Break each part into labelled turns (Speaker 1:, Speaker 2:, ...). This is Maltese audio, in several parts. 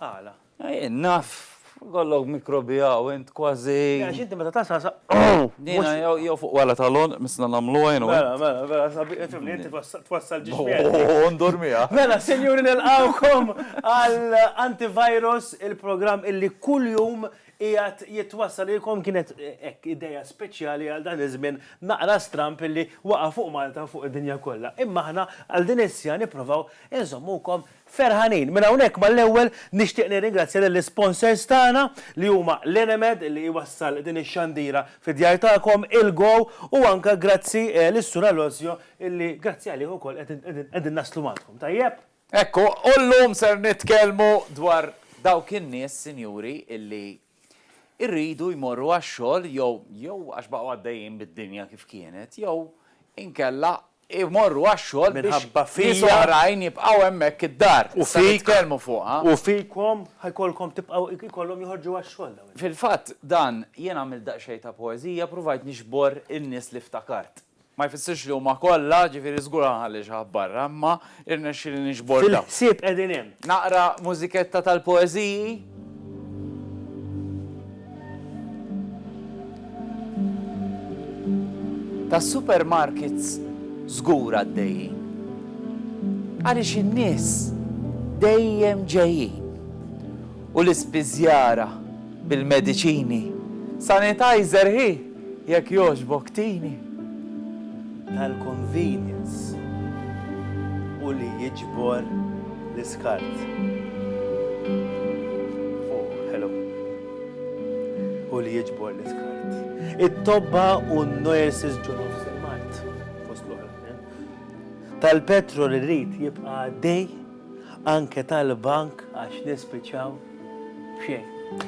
Speaker 1: Għala?
Speaker 2: Jien naf,
Speaker 1: ikollok mikrobi hawn, int kważi. Le għax inti meta tasal
Speaker 2: sa Jiena
Speaker 1: jew fuq wara tal-għonq missna nagħmluha jien u int. Mela, mela, mela sabiħ ifhimni,
Speaker 2: inti twassal ġiex miegħek. U ndur miegħek. Mela
Speaker 1: sinjuri
Speaker 2: nilqgħukom għal Antivirus, il-programm illi kuljum qiegħed jitwassal lilkom. Kienet hekk idea speċjali għal dan iż-żmien naqra stramb illi waqa' fuq Malta u fuq id-dinja kollha. Imma aħna għal din is-siegħa nipprovaw inżommukom Ferħanin. Minn hawnhekk mal-ewwel nixtieq nirringrazzja lill-isponsors tagħna li huma l-Enemed li jwassal din ix-xandira fid-djar tagħkom, il-Go u anke grazzi lis-Sur Alosio illi grazzi għalih ukoll qegħdin naslu għandkom. Tajjeb? Hekk hu. U
Speaker 1: llum ser nitkellmu dwar dawk in-nies, sinjuri, illi jridu jmorru għax-xogħol jew jew għax baqgħu għaddejjin bid-dinja kif kienet jew inkella imorru għax-xogħol biex Minħabba fija. nies
Speaker 2: oħrajn
Speaker 1: jibqgħu hemmhekk id-dar U se fik. nitkellmu
Speaker 2: fuqha.
Speaker 1: U fikom
Speaker 2: ħa jkollkom tibqgħu jkollhom joħorġu għax-xogħol dawn in-nies. Fil-fatt, dan,
Speaker 1: jien għamilt daqsxejn ta' poeżija, pruvajt nixbor in-nies li ftakart. Ma jfissirx li huma kollha, ġifieri żgur għandha ħalli xi ħadd barra, imma Irnexxieli niġbor dawn. Fil-ħsieb qegħdin hemm.
Speaker 2: Naqra mużiketta
Speaker 1: tal-poeżiji. Tas-supermarkets żgur għaddejjin. Għaliex in-nies dejjem ġejjin. U l-ispiżjara bil-mediċini, sanitizer hi! Jekk jogħġbok tini tal-convenience
Speaker 2: u li jiġbor l-iskart. Oh, hello. U li jiġbor l-iskart. It-tobba u n-nurses ġo-nofs il-Mart, fost l-oħra. Tal-petrol irid jibqa' għaddej. Anke tal-bank għax nispiċċaw b'xejn.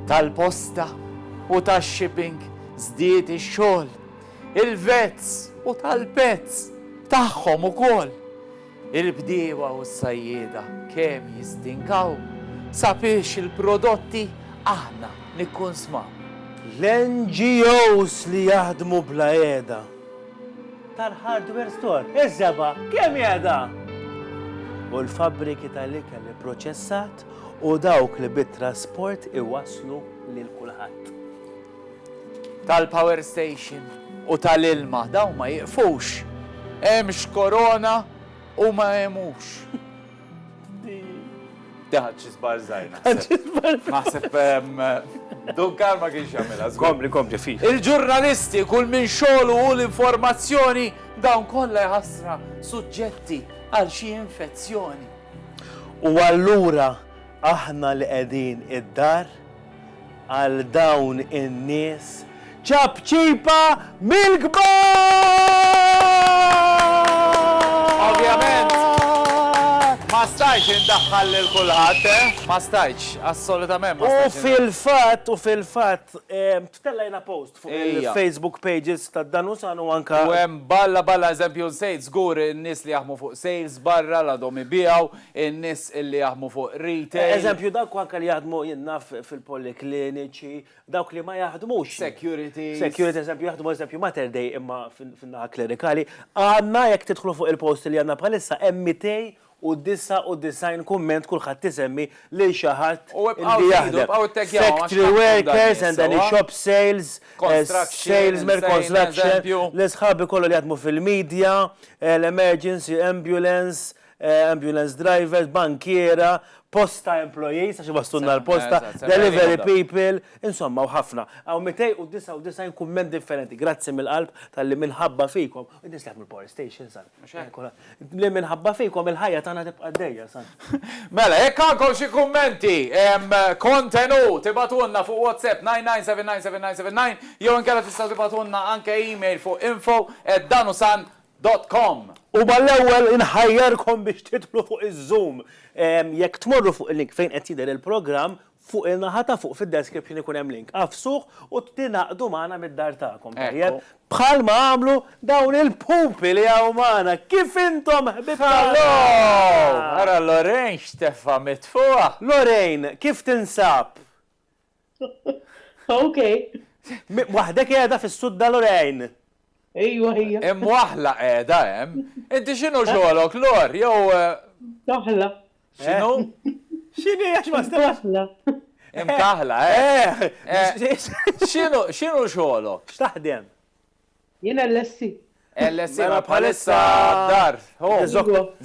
Speaker 2: Tal-posta
Speaker 1: u tax-shipping żdied ix-xogħol. Il-vets u tal-pets tagħhom ukoll. Il-bdiewa u s-sajjieda kemm jistinkaw sabiex il-prodotti aħna nikkunsmaw. L-NGOs
Speaker 2: li jaħdmu bla qiegħda. tal-hardware store, iż-żebgħa kemm qiegħda? U l-fabbriki tal-ikel ipproċessat u dawk li bit-trasport iwasslu lil kulħadd. Tal-power
Speaker 1: station u tal-ilma, dawn ma jiqfux. Hemmx korona u ma hemmux. Daħal xi żbar żgħir naħseb. Naħseb ehm, Dunkar ma kienx jagħmilha. Kompli, kompli, fi.
Speaker 2: Il-ġurnalisti kull
Speaker 1: minn xogħlu u l-informazzjoni dawn kollha jħassra suġġetti għal xi infezzjoni. U
Speaker 2: allura Aħna li qegħdin id-dar għal dawn in-nies ċapċipa Ovvjament, mill-kbar!
Speaker 1: ma stajtx indaħħal lil kulħadd, eh? Ma stajtx, assolutament ma U stajtx. fil-fatt, u fil-fatt,
Speaker 2: ehm, ttellejna post fuq il-Facebook pages ta' Danusan u anke. U hemm balla balla,
Speaker 1: eżempju, nsejt żgur in-nies li jaħdmu fuq sales barra li għadhom ibiegħu. In-nies li jaħdmu fuq retail. Eżempju, dawk anke li
Speaker 2: jaħdmu, jien naf, fil-polikliniċi, dawk li ma jaħdmux. Securities. Securities,
Speaker 1: eżempju, jaħdmu,
Speaker 2: eżempju, Mater Dei imma fin-naħa klerikali. Għandna, jekk tidħlu fuq il-post li għandna bħalissa, hemm 299 kumment kulħadd isemmi lil xi ħadd li jaħdem. U ibqgħu żidu, ibqgħu ittaggjawhom għax tantkom daħlin sewwa. Factory workers and any shop sales, salesmen, construction, lil sħabi kollha li jaħdmu fil-media, l-emergency, ambulance, ambulance drivers, bankiera, posta employees, għax iwasslulna l-posta, delivery people, insomma u ħafna. Hawn 299 kumment differenti. Grazzi mill-qalb talli minħabba fikom, in-nies li jaħdmu l-power stations, li minħabba fikom il-ħajja tagħna tibqa' għaddejja. Mela, jekk
Speaker 1: għandkom xi kummenti, kontenut, ibgħatulna fuq WhatsApp 99799979 jew inkella tistgħu tibgħatulna anke email fuq info@danusan. dot com. Huma l-ewwel
Speaker 2: inħajjarkom biex tidħlu fuq iz-zoom. Jekk tmorru fuq il-link fejn qed jidher il-programm, fuq in-naħa ta' fuq fid-description ikun hemm link. Agħfsuh u tingħaqdu magħna mid-dar tagħkom, tajjeb? Bħal ma għamlu dawn il-pupi li hawn magħna. Kif intom ħbieb tagħna! Hallo!
Speaker 1: Ara Lorraine x'tefgħa mitfugħa! Lorraine, kif
Speaker 2: tinsab?
Speaker 3: Ok. Waħdek
Speaker 2: qiegħda fis-sudda Lorraine. Ejwa
Speaker 3: hija. Imwaħħla qiegħda
Speaker 1: hemm. Inti x'inhu xogħlok Lor jew Mkaħħla.
Speaker 3: X'inhu?
Speaker 1: X'inhi
Speaker 2: għax ma stilx. Mkaħħla.
Speaker 3: Imkaħħla
Speaker 1: eh. X'inhu x'inhu xogħlok? X'taħdem?
Speaker 2: Jiena
Speaker 3: LSE. LSE ma
Speaker 1: bħalissa d-dar.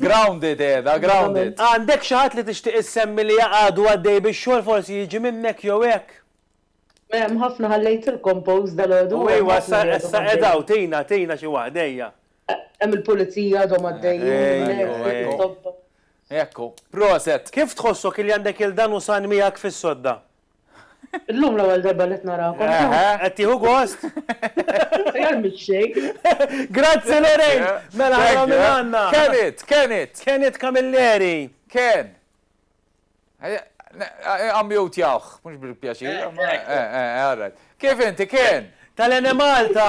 Speaker 1: Grounded qiegħda, grounded. Għandek xi ħadd li
Speaker 2: tixtieq issemmi li għadu għaddej bix-xogħol forsi jiġi minnek jew hekk? Hemm
Speaker 3: ħafna ħallejtilkom post dalgħodu. U ejwa issa
Speaker 2: qiegħed hawn tina tina xi waħda ejja. Hemm
Speaker 3: il-pulizija għadhom għaddejjin.
Speaker 1: Ekku. Proset. Kif tħossok li
Speaker 2: għandek il dan u san miegħek fis-sodda?
Speaker 3: Illum l-ewwel darba li qed narakom. Eħe, qed tieħu gost?
Speaker 2: Aħjar
Speaker 3: mix-xejn. Grazzi Lorraine!
Speaker 2: Mela ara min għandna. Ken it, Ken it. Ken it Camilleri. Ken.
Speaker 1: Ammjutjawh, mhux bil-pjaċir. All right. Kif inti Ken? Tal-Enemalta.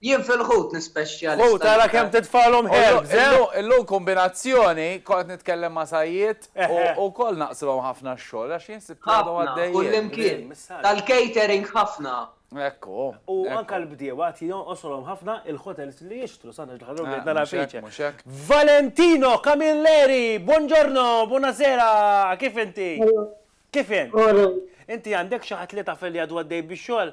Speaker 2: Jien
Speaker 4: fil-ħut nispeċjalista Ħut, l-iktar. ara kemm
Speaker 2: titfagħlhom herbs, eh! Illum, illum
Speaker 1: kombinazzjoni, kont qed nitkellem ma' Said u wkoll naqslhom ħafna x-xogħol għax jien sibt li għadhom Ħafna, għaddejjin. kullimkien.
Speaker 4: Tal-catering ħafna. Hekk hu,
Speaker 1: U hekk anke hu.
Speaker 2: l-bdiewa qed jonqoslhom ħafna il-hotels li jixtru, sa nerġa' ħallu bdejt nara Mhux hekk, fiċ. mhux hekk. Valentino Camilleri, buongiorno, buonasera, kif inti? Kif int? Inti għandek xi ħadd li taf li għadu għaddej bix-xogħol?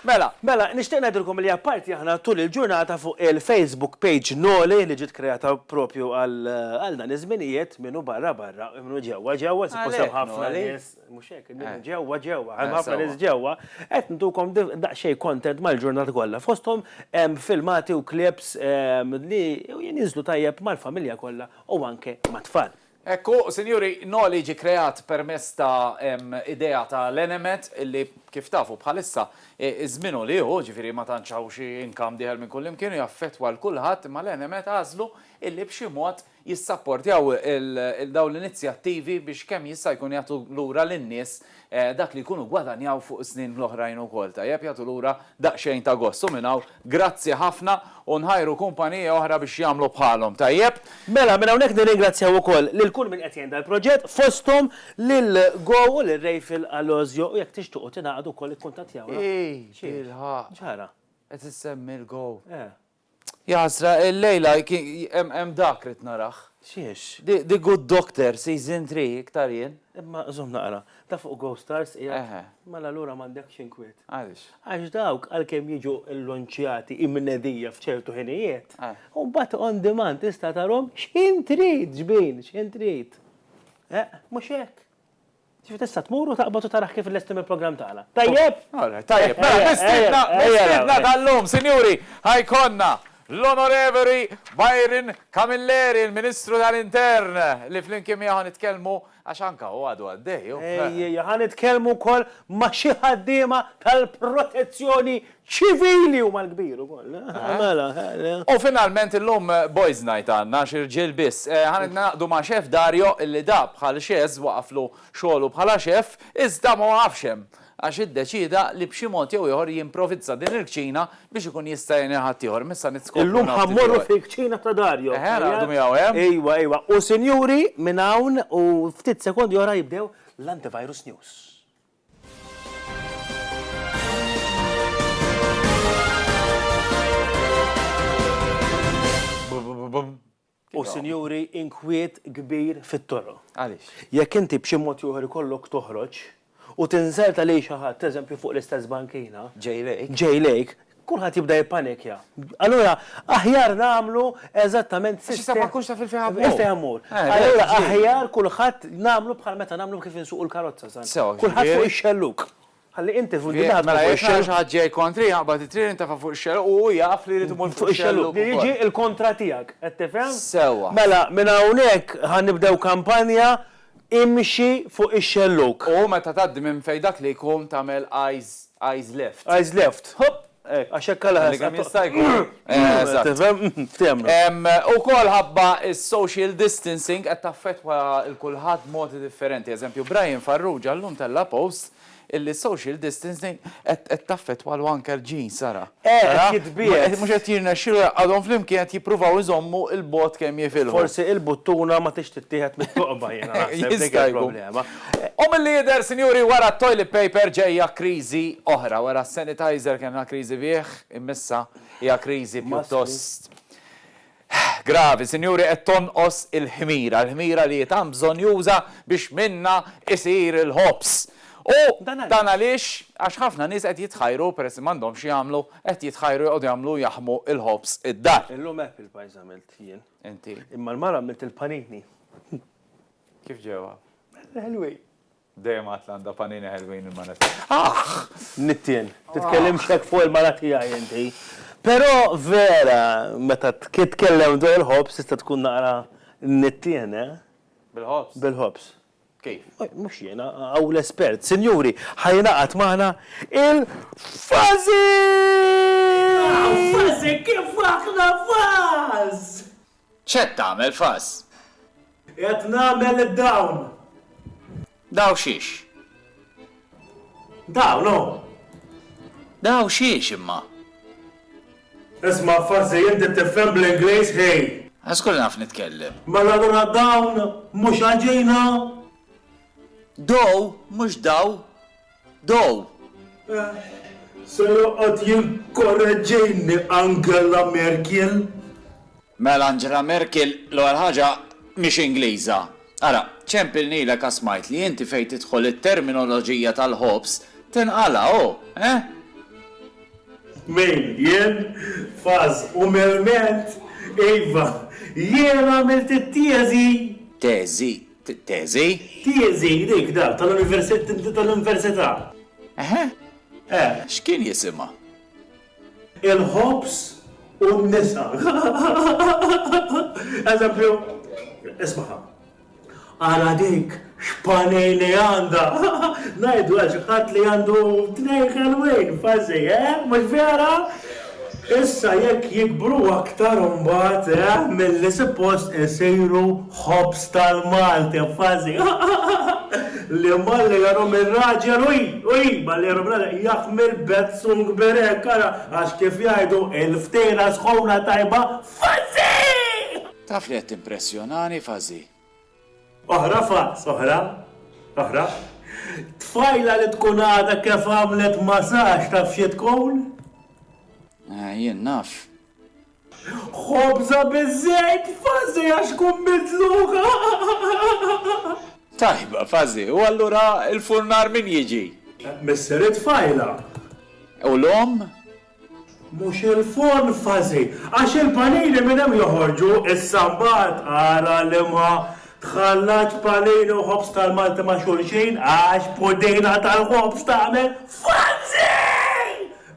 Speaker 1: Mela, mela, nixtieq ngħidilkom
Speaker 2: li apparti aħna tul il-ġurnata fuq il-Facebook page Noli li ġiet kreata propju għal dan iż-żminijiet, min hu barra barra, min hu ġewwa ġewwa, suppost hemm ħafna nies, mhux hekk, min hu ġewwa ġewwa, hemm ħafna nies ġewwa, qed ntukom daqsxejn content mal-ġurnata kollha. Fosthom hemm filmati u clips li jinżlu tajjeb mal-familja kollha u anke mat-tfal. Hekk hu, sinjuri,
Speaker 1: Noli ġie kreat permezz ta' idea ta' l-enemed li, kif tafu, bħalissa, iż-żmienu li hu, ġifieri ma tantx hawn xi income dieħel minn kullimkien u jaffettwa 'l kulħadd, imma l-enemed għażlu illi b'xi mod jissapportjaw 'il dawn l-inizjattivi biex kemm jista' jkun jagħtu lura lin-nies dak li jkunu gwadanjaw fuq is-snin l-oħrajn ukoll tajjeb jagħtu lura daqsxejn ta' gost u minn hawn grazzi ħafna u nħajru kumpaniji oħra biex jagħmlu bħalhom tajjeb. Mela minn hawnhekk
Speaker 2: nirringrazzjaw ukoll lil kull min qed jgħin dal-proġett fosthom lil Go u lil Rayfield Alozio u jekk tixtuqu tingħaqdu wkoll ikkuntattjawna. Ii
Speaker 1: bilħaqq.
Speaker 2: X'ġara?
Speaker 1: Qed issemmi
Speaker 2: l-Go. Eh.
Speaker 1: Jaħasra, illejla hemm dak rrid narah. Xiex? The
Speaker 2: Good Doctor,
Speaker 1: Season 3, iktar jien. Imma żomm naqra,
Speaker 2: ta' fuq Go Stars qiegħed? Mela allura
Speaker 1: m'għandekx
Speaker 2: inkwiet. Għaliex? Għax
Speaker 1: dawk għalkemm
Speaker 2: jiġu llunċjati imnedija f'ċertu ħinijiet, u mbagħad
Speaker 1: on demand
Speaker 2: tista' tarahom x'ħin trid, xbin, x'ħin trid. Eq, mhux hekk? Ġifieri tista' tmur u taqbad u tarah kif lesti mill-programm tagħna. Tajjeb? Alright, tajjeb. Mela,
Speaker 1: mistiedna, mistiedna tal-lum, sinjuri, ħa jkollna l-Onorevoli Byron Camilleri, il-Ministru tal-Intern, li flimkien miegħu ħa nitkellmu, għax anke hu għadu għaddej, hu. Ejja, ejja, ħa nitkellmu
Speaker 2: wkoll ma' xi ħaddiema tal-protezzjoni Ċivili huma l-kbir ukoll. Mela. U finalment
Speaker 1: illum boys night għandna għax irġiel biss. Ħa ningħaqdu ma' Chef Dario illi da bħal Xezz waqaflu xogħlu bħala Chef iżda ma waqafx hemm għax iddeċieda li b'xi mod jew ieħor jimprovizza din il-kċina biex ikun jista' jgħin il ħaddieħor. Imma issa nitskopru nofs Illum ħa mmorru
Speaker 2: fil-kċina ta' Dario. Eħe, ħa naqgħdu miegħu hemm.
Speaker 1: Ejwa, ejwa. U sinjuri
Speaker 2: minn hawn u ftit sekondi oħra jibdew l-Antivirus News. U sinjuri inkwiet kbir fit-toro. Għaliex? Jekk
Speaker 1: inti b'xi
Speaker 2: mod ieħor ikollok toħroġ u tinżel ta' lejn xi ħadd, eżempju fuq l-istess bankina, ġej lejk, Kulħadd jibda jippanikja. Allura aħjar nagħmlu eżattament sistema. Għax issa ma tkunx taf il-fejn
Speaker 1: ħammur. Il-fejn ħammur.
Speaker 2: Allura aħjar kulħadd nagħmlu bħal meta nagħmlu kif insuqu l-karozza sa. Sew. Kulħadd fuq ix-xellug. Ħalli inti fuq id-dinha. Mela jekk nara xi ħadd ġej
Speaker 1: kontri jaqbad it-trieni intefa' fuq ix-xellug u hu jaf li jrid imur fuq ix-xellug. Li jiġi l-kontra
Speaker 2: tiegħek. Qed tifhem? Sewwa. Mela minn
Speaker 1: hawnhekk
Speaker 2: ħa nibdew kampanja Imxi fuq ix-xellug. U meta tgħaddi minn
Speaker 1: fejn dak li jkun tagħmel eyes eyes left. Eyes left. Ħopp!
Speaker 2: Hekk, għax hekk għala Għalli kemm jista' jkun.
Speaker 1: Eżatt. Tifhem? Tifhem.
Speaker 2: Ukoll ħabba
Speaker 1: s-social distancing qed taffettwa 'l kulħadd b'modi differenti. Eżempju, Brian Farrugia llum tella' post illi social distancing qed qed taffettwalu anke l-ġin, Sara. Eh, qed jitbiegħed.
Speaker 2: Mhux qed jirnexxilu
Speaker 1: jgħaqqadhom flimkien qed jippruvaw iżommu l-bogħod kemm jifilħu. Forsi il-buttuna
Speaker 2: ma tridx tittieħed mit-toqba jiena naħseb dik il-problema. U milli jidher,
Speaker 1: sinjuri, wara t-toilet paper ġejja kriżi oħra. Wara s-sanitizer kellna kriżi bih, imma issa hija kriżi pjuttost Hh, gravi, sinjuri, qed tonqos il-ħmira, l-ħmira li hi tant bżonnjuża biex minnha jsir il-ħobż. U dan għaliex? Għax ħafna nies qed jitħajru, peress li m'għandhomx x'jagħmlu, qed jitħajru jqogħdu jagħmlu jaħmu l-ħobż id-dar. Illum apple pies
Speaker 2: għamilt jien. Inti? Imma l-mara
Speaker 1: għamilt
Speaker 2: il-panini.
Speaker 1: Kif ġewha? Belli ħelwin.
Speaker 2: Dejjem għedt
Speaker 1: li għandha panini ħelwin il-mara tiegħi. Aħ!
Speaker 2: Nittien, titkellimx hekk fuq il-mara tiegħi inti. Però vera meta titkellem dwar il-ħobż tista' tkun naqra nittien, eh? Bil-ħobż?
Speaker 1: Bil-ħobż.
Speaker 2: Kif?
Speaker 1: Mhux jiena,
Speaker 2: hawn l-espert. Sinjuri, ħa jingħaqad magħna il-Fażi! Aw, Fażi kif aħna faż! X'qed
Speaker 1: tagħmel, Fuzz? Qiegħed
Speaker 2: nagħmel dawn.
Speaker 1: Daw xiex?
Speaker 2: Dawn hu.
Speaker 1: Daw xiex imma?
Speaker 2: Isma', Fuzzy, inti tifhem bl-Ingliż, ħej! A żgur li naf
Speaker 1: nitkellem. Mela allura dawn
Speaker 2: mhux għal ġina? Dow,
Speaker 1: mhux daw. Dow!
Speaker 2: Se joqgħod jinkoraġġini Angela Merkiel? Mela
Speaker 1: Angela Merkiel, l-ewwel ħaġa, mhix Ingliża. Ara, ċempilnilek għax smajt li inti fejn tidħol it-terminoloġija tal-ħobż tinqala', hu, eh?
Speaker 2: Min, jien? Faż u merment? Iva, jien għamilt it-teżi! Teżi?
Speaker 1: T-teżi?
Speaker 2: T-teżi, dik, dak, tal-università. Eħe?
Speaker 1: Eh. X'kien jisimha?
Speaker 2: Il-ħobż u n-nisa. Eżempju, ismaha. Ara dik x'panni li għandha! Ngħidu għal xi ħadd li għandu tnejn ħelwin, fażi, eh? Mhux vera? Issa jekk jikbru aktar imbagħad eh milli suppost isiru ħobż tal-Malti f'fażi li malli jarhom ir-raġel ui ui malli jarhom ir-raġel jaħmel bezzung berek ara għax kif jgħidu il-ftela sħuna tajba f'fażi! Taf li qed
Speaker 1: timpressjonani f'fażi. Oħra
Speaker 2: fax, oħra, oħra. Tfajla li tkun għadha kif għamlet masaġġ taf xi
Speaker 1: tkun?
Speaker 2: Eh, jien naf. Ħobża biż-żejt, fażi għax tkun midluka.
Speaker 1: Tajba, fażi, u allura l-furnar min jiġi? Missier
Speaker 2: it-tfajla. U
Speaker 1: l-omm?
Speaker 2: Mhux il-forn fażi, għax il-panini minn hemm joħorġu, issa mbagħad ara liema tħallatx panini u ħobż tal-Malti ma' xulxin għax pudina tal-ħobż tagħmel fażi!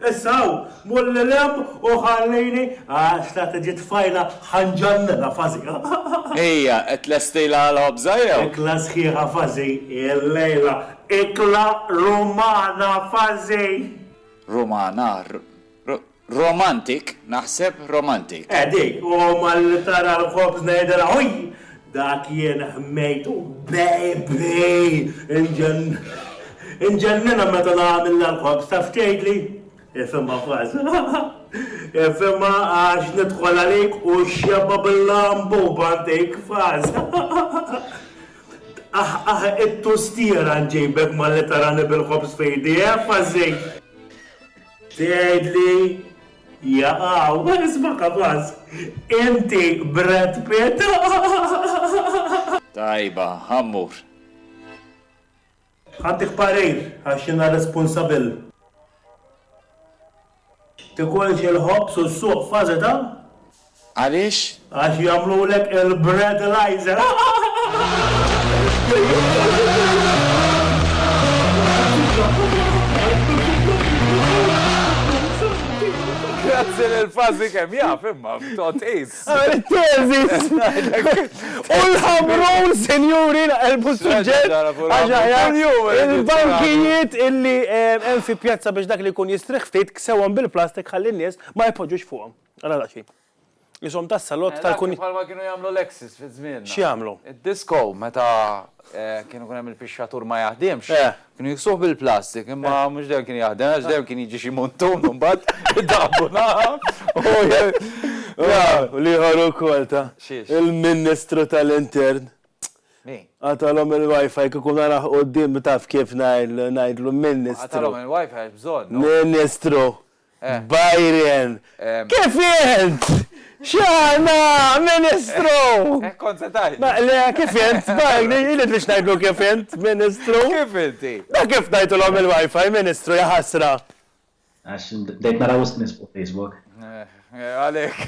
Speaker 2: Issa hawn, mulli lemm u ħallini għax la tiġi tfajla ħa nġannilha fażi. Hija
Speaker 1: qed tlestilha għall-ħobża jew? Ikla sħiħa
Speaker 2: fażi illejla, ikla Rumana fażi! Rumana,
Speaker 1: r, r, romantic, naħseb, romantic. Eh dik, u
Speaker 2: malli tara l-ħobż ngħidilha ħuj! Dak jien ħmejt u baby! Inġenn, inġenninha meta nagħmilha l-ħobż, taf x'tgħidli? Ifhimha kważi, ha, ha! Ifhimha għax nidħol għalik u xebgħa bil-lambu b'għantik kważi, ha, ha, ha! Tqaħqaħ it-tustiera nġibek malli tarani bil-ħobż f'idi, effa ż-żejt! Tgħidli, jaqaw, isma' kapaż, inti Brad Pitt!
Speaker 1: Tajba, ħa mmur.
Speaker 2: Ħaddik parir għax jiena responsabil. Tikolx il-ħobż u ssuq fażi ta'. Għaliex?
Speaker 1: Għax
Speaker 2: jagħmlulek il-breadilisers. Grazzi lil Fażi kemm jaf imma
Speaker 1: b'togħtież. Ara t-teżis!
Speaker 2: U l-Ħamrun, sinjuri, naqilbu s-suġġett għax aħjar il-bankijiet illi hemm fi pjazza biex dak li jkun jistrieħ ftit ksewhom bil-plastik ħalli n-nies ma jpoġġux fuqhom. Ara daqsxejn. Qishom tas-salott tal-kunjinni. Bħalma kienu jagħmlu l-exes
Speaker 1: fi żmienna. X'jagħmlu? Id-disko
Speaker 2: meta
Speaker 1: kienu jkun hemm il-pixxatur ma jaħdimx, Kienu jiksuh bil-plastik, imma mhux dejjem kien jaħdem, għax dejjem kien jiġi xi muntun u mbagħad idaħħbu naħa
Speaker 2: u l-ieħor ukoll ta' il-Ministru tal-Intern. Min?
Speaker 1: Qatalhom il-WiFi
Speaker 2: kieku narah quddiem taf kif ngħidlu Ministru. Qatalhom il-WiFi għax
Speaker 1: bżonnu. Ministru!
Speaker 2: Byron, Kif int? X'aħna, Ministru! Hekk kont se tgħid.
Speaker 1: Le, kif int?
Speaker 2: Byron, Irid biex ngħidlu kif int, Ministru. Kif inti?
Speaker 1: Dak kif tajthulhom
Speaker 2: il-WiFi, Ministru, ja ħasra! Għax
Speaker 5: bdejt nara wisq nies fuq Facebook. Għalhekk.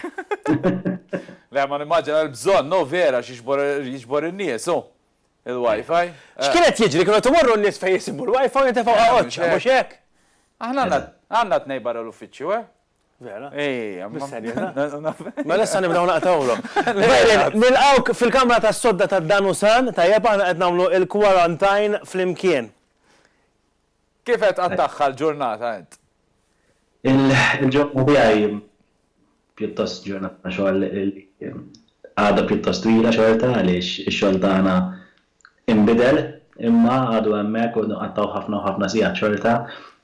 Speaker 1: Le, ma nimmaġina l-bżonn, hu vera, x'jiġbor in-nies, hu. Il-Wi-Fi? X'kien qed jiġri,
Speaker 2: kienu qed imorru n-nies fejn jsibu l-Wi-Fi u jintefgħu għaqoċċa, mhux hekk? Aħna
Speaker 1: għandna tnejn barra l-uffiċċju, eh? Vera?
Speaker 2: Ejja, mhux serjeta.
Speaker 1: Mela
Speaker 2: issa nibdew naqtgħulhom. Nilqgħuk fil-kamra tas-sodda tad-Danusan, tajjeb aħna qed nagħmlu l-quarantine flimkien.
Speaker 1: Kif qed qattagħha l-ġurnata int?
Speaker 5: Il-ġurnata tiegħi hi pjuttost ġurnata xogħol li għadha pjuttost twila xorta għaliex ix-xogħol tagħna inbidel imma għadu hemmhekk u nqattgħu ħafna u ħafna sigħat xorta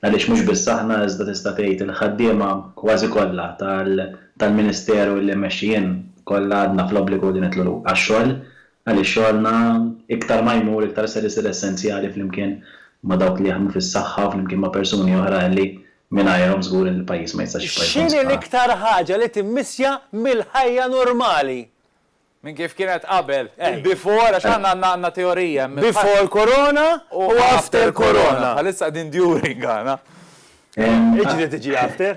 Speaker 5: għaliex mhux biss aħna iżda tista' tgħid il-ħaddiema kważi kollha tal-Ministeru li mmexxi jien kollha għadna fl-obbligu li nidħlu għax-xogħol Għaliex xogħolna iktar ma jmur iktar ser isir essenzjali flimkien ma' dawk li jaħdmu fis-saħħa u flimkien ma' persuni oħrajn li mingħajrhom żgur li l-pajjiż ma jistax jibqa' jkun X'inhi sħaħ. l-iktar ħaġa
Speaker 2: li timmissja mill-ħajja normali? Minn kif
Speaker 1: kienet qabel. Il-before, għax aħna għandna għandna teorija hemm. Before Corona
Speaker 2: u after Corona. Bħalissa qegħdin during
Speaker 1: aħna.
Speaker 2: Iġri tiġi after.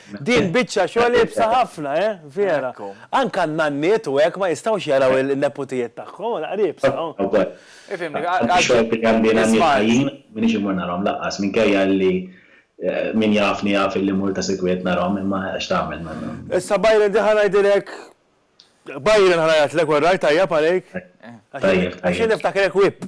Speaker 2: Din biċċa xogħol iebsa ħafna, eh? Vera. Anke n-nanniet u hekk ma jistgħux jaraw in-neputijiet tagħhom, ara qed iebsa. Ifhimni, għal xi xogħol.
Speaker 5: Għandi nanniet ħajjin, m'iniex immur narhom lanqas, minkejja li min jafni jaf illi mmur ta' sikwit narhom, imma x'tagħmel ma. Issa Byron
Speaker 2: din ħa ngħidilek, Byron ħa ngħajjatlek, orrajt tajjeb għalik? Tajjeb, tajjeb. Għax jien niftakrek whip.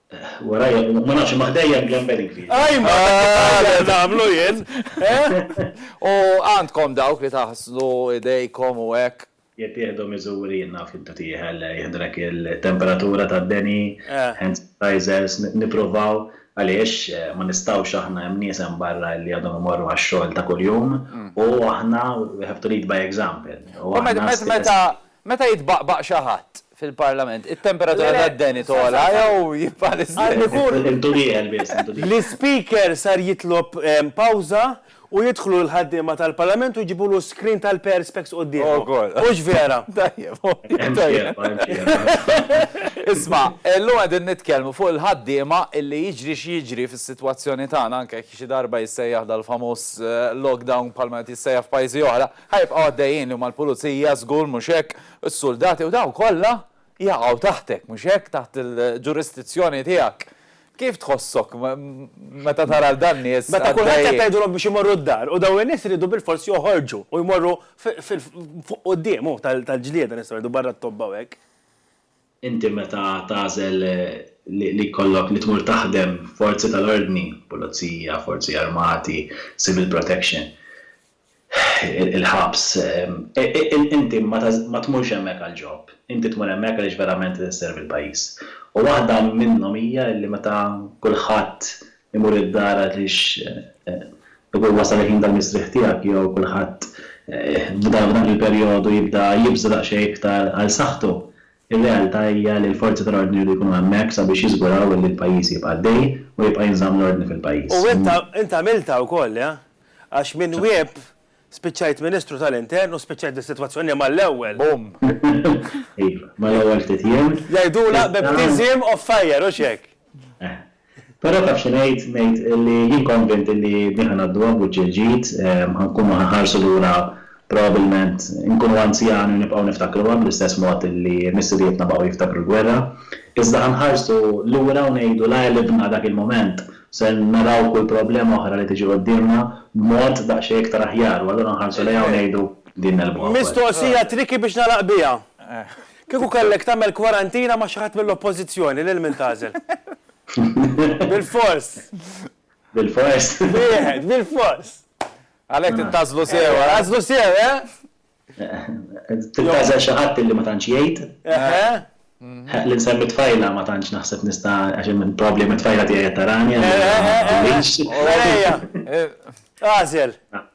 Speaker 5: Warajja, ma nafx, imma ħdejja hemm ġamberi kbir. Ajma,
Speaker 2: dak nagħmlu jien, eh?
Speaker 1: U għandkom dawk li taħslu idejkom u hekk? Jekk tieħdu miżuri,
Speaker 5: jien naf intu tieħel, jiħdrek il-temperatura tad-deni, hand sanitizers, nippruvaw, għaliex ma nistgħux aħna hemm nies hemm barra li għadhom imorru għax-xogħol ta' kuljum u aħna we have to lead by example. U meta,
Speaker 1: Meta jitbaqbaq xi ħadd fil-Parlament, it-temperatura tad-deni togħla jew jibqa' l-istess?
Speaker 5: L-Ispeaker sar
Speaker 2: jitlob pawża u jidħlu l-ħaddiema tal-Parlament u jġibulu screen tal-perspex quddiemhom. Hux vera?
Speaker 5: Isma', illum
Speaker 1: qegħdin nitkellmu fuq il-ħaddiema illi jiġri x'jiġri fis-sitwazzjoni tagħna, anke jekk xi darba jissejjaħ dal-famuż lockdown bħalma qed jissejjaħ f'pajjiżi oħra, Ħa jibqgħu għaddejjin li huma l-pulizija, żgur, mhux hekk? Is-suldati u dawn kollha jaqgħu taħtek, mhux hekk, taħt il-ġurisdizzjoni tiegħek. Kif tħossok meta tara 'l dan nies għaddejjin? Meta kulħadd qed tgħidulhom
Speaker 2: biex imorru d-dar u dawn in-nies iridu bilfors joħorġu u jmorru fuq quddiem, hu, tal-ġlieda nistgħu ngħidu barra t-tobba u hekk. Inti
Speaker 5: meta tagħżel li jkollok li tmur taħdem f'forzi tal-ordni, pulizija, forzi armati, civil protection, il-ħabs, inti ma tmurx hemmhekk għall-ġob. Inti tmur hemmhekk għaliex verament qed isservi l-pajjiż. U waħda minnhom hija li meta kulħadd imur id-dar għaliex ikun wasal il-ħin tal-mistrieħ tiegħek jew kulħadd f'dan il-perjodu jibda jibża' daqsxejn iktar għal saħħtu, ir-realtà hija li l-forzi tal-ordni jridu jkunu hemmhekk sabiex jiżguraw li l-pajjiż jibqa' għaddej u jibqa' jinżamm l-ordni fil-pajjiż. U int
Speaker 2: għamiltha wkoll, eh? Għax minn Whip spiċċajt Ministru tal-Intern u spiċċajt bis-sitwazzjoni mal-ewwel. Boom!
Speaker 5: Iva, mal-ewwel ftit jiem. Jgħidulha baptism
Speaker 2: of fire, hux hekk? Eh.
Speaker 5: Però taf xi ngħid, ngħid li jien konvint li din ħa ngħadduha b'wiċċ il-ġid, ħa nkunu ħa nħarsu lura probabbilment inkunu anzjani u nibqgħu niftakruha bl-istess mod li missirijietna baqgħu jiftakru l-gwerra, iżda ħa nħarsu lura u ngħidu la għelibna dak il-mument, se naraw kull problema oħra li tiġi quddiemna b'mod daqsxejn iktar aħjar u allura nħarsu lejha u ngħidu din negħlbuha wkoll. Mistoqsija tricky
Speaker 2: biex nagħlaq biha. Kieku kellek tagħmel kwarantina ma' xi ħadd mill-Oppożizzjoni, lil min tagħżel? Bilfors! Bilfors!
Speaker 5: Wieħed,
Speaker 2: bilfors! Għalhekk trid
Speaker 1: tagħżlu sew, agħżlu sew,
Speaker 2: eh? Trid
Speaker 5: tagħżel xi ħadd li ma tantx jgħid. Li nsemmi t-tfajla ma tantx naħseb nista' għax hemm il-problema t-tfajla tiegħi qed tarani. Agħżel!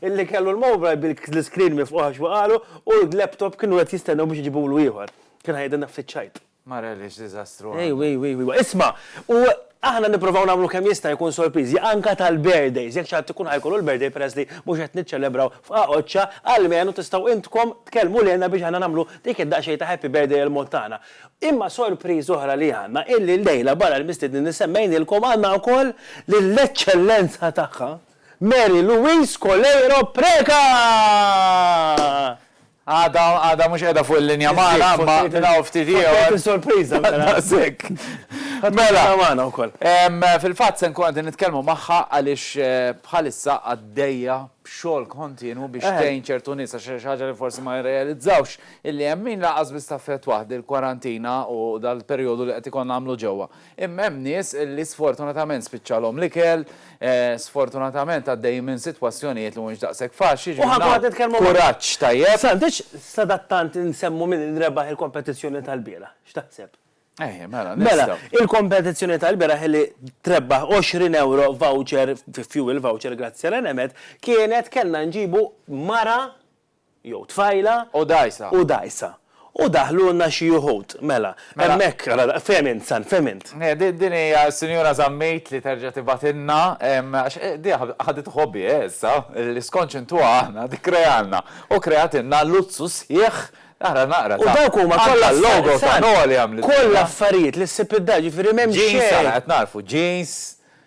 Speaker 2: Illi kellu l-mobile bil-screen mifqugħ għax waqagħlu u l-laptop kienu qed jistennew biex iġibulu ieħor. Kien ħajqidha nafs iċ-ċajt. Mara li x'diżastru
Speaker 1: għandha. Ejwa, ejwa, ejwa. Isma',
Speaker 2: u aħna nipprovaw nagħmlu kemm jista' jkun sorpriżi anke tal-birthdays. Jekk xi ħadd ikun ħajkollu l-birthday peress li mhux qed niċċelebraw f'Qagħoċċa, almenu tistgħu intkom tkellmu lilna biex aħna nagħmlu dik id-daqsxejn ta' happy birthday il-mod tagħna. Imma sorpriża oħra li għandna illi llejla barra l-mistiednin li semmejnielkom għandna wkoll lill-Eċċellenza Tagħha, Mary Louise Coleiro Preca!
Speaker 1: Għadha għadha mhux qiegħda fuq il-linja magħna imma minn hawn ftit ieħor. Fottejtni sorpriża mela. Daqshekk.
Speaker 2: Ħa
Speaker 1: tkun qiegħda
Speaker 2: magħna wkoll.
Speaker 1: Fil-fatt se nkun qegħdin nitkellmu magħha għaliex bħalissa għaddejja b'xogħol kontinwu biex tgħin ċertu nies għax xi ħaġa li forsi ma jirrealizzawx illi hemm min lanqas biss taffettwah dil-kwarantina u dal-perjodu li qed ikollna nagħmlu ġewwa. Imma hemm nies li sfortunatament spiċċalhom l-ikel, sfortunatament għaddejjin minn sitwazzjonijiet li mhumiex daqshekk faċli, ġifieri nagħmlu kuraġġ tajjeb. S'għandekx
Speaker 2: sadattant insemmu min rebaħ il-kompetizzjoni tal-bieraħ? X'taħseb? Ejja, mela, nistgħu.
Speaker 1: Mela, il-kompetizzjoni
Speaker 2: tal-bieraħ li trebbaħ 20 ewro voucher, fuel voucher grazzi għal Enemed, kienet kellna nġibu mara jew tfajla. U dgħajsa.
Speaker 1: U
Speaker 2: dgħajsa. U daħlulna xi uħud. Mela, hemmhekk, ara, fehem int, San, fehem int. Din hija
Speaker 1: s-Sinjura Zammit li terġa' tibgħatilna, għax di ħaditha hobby hi issa, li skont x'intuha aħna, tikkrealna. U kreatilna luzzu sħiħ, ara naqra ta'. U dawk huma kollha
Speaker 2: affarijiet, San,
Speaker 1: kollha affarijiet li
Speaker 2: ssib id-dar, jiġifieri m'hemm xejn. Jeans, ara qed nagħrfu, jeans.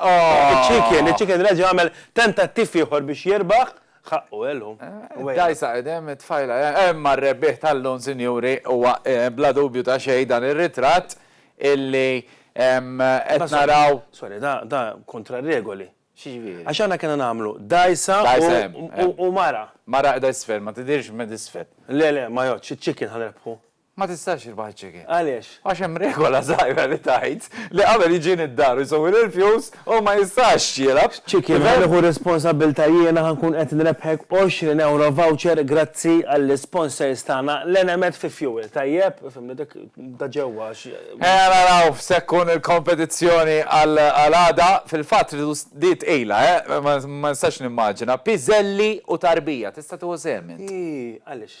Speaker 2: Iċ-Chicken, iċ-Chicken reġa' għamel tentattiv ieħor biex jirbaħ, ħaqqu għelu. Dgħajsa qidem
Speaker 1: it-tfajla, imma r-rebbieħ tal-lum, sinjuri, huwa bla dubju ta' xejn dan ir-ritratt illi qed naraw. Sorry, da
Speaker 2: kontra r-regoli. X'jiġifieri? Għax aħna
Speaker 1: kellna nagħmlu
Speaker 2: dgħajsa u mara. Mara qiegħda isfel, ma
Speaker 1: tidhirx minn isfel. Le, le, ma jgħoddx,
Speaker 2: iċ-Chicken ħa nirbħu. Ma tistax tirbaħ
Speaker 1: iċ-chicken. Għaliex? Għax hemm
Speaker 2: regola
Speaker 1: żgħira li tgħid li qabel jiġini d-dar u jsewwi l-irfjus, hu ma jistax jilgħab. Chicken, ħa nieħu
Speaker 2: r-responsabbiltà jiena ħa nkun qed nrebbħek għoxrin ewro voucher grazzi għall-isponsors tagħna l-Enemed fi Fuel, tajjeb? Fhimni dik ta' ġewwa għax. Ejja naraw
Speaker 1: x'se tkun il-kompetizzjoni għal għada. Fil-fatt tridu di tqila, eh! Ma nistax nimmaġina. Piżelli u tarbija, tista' tieħu sehem int? Ii, għaliex?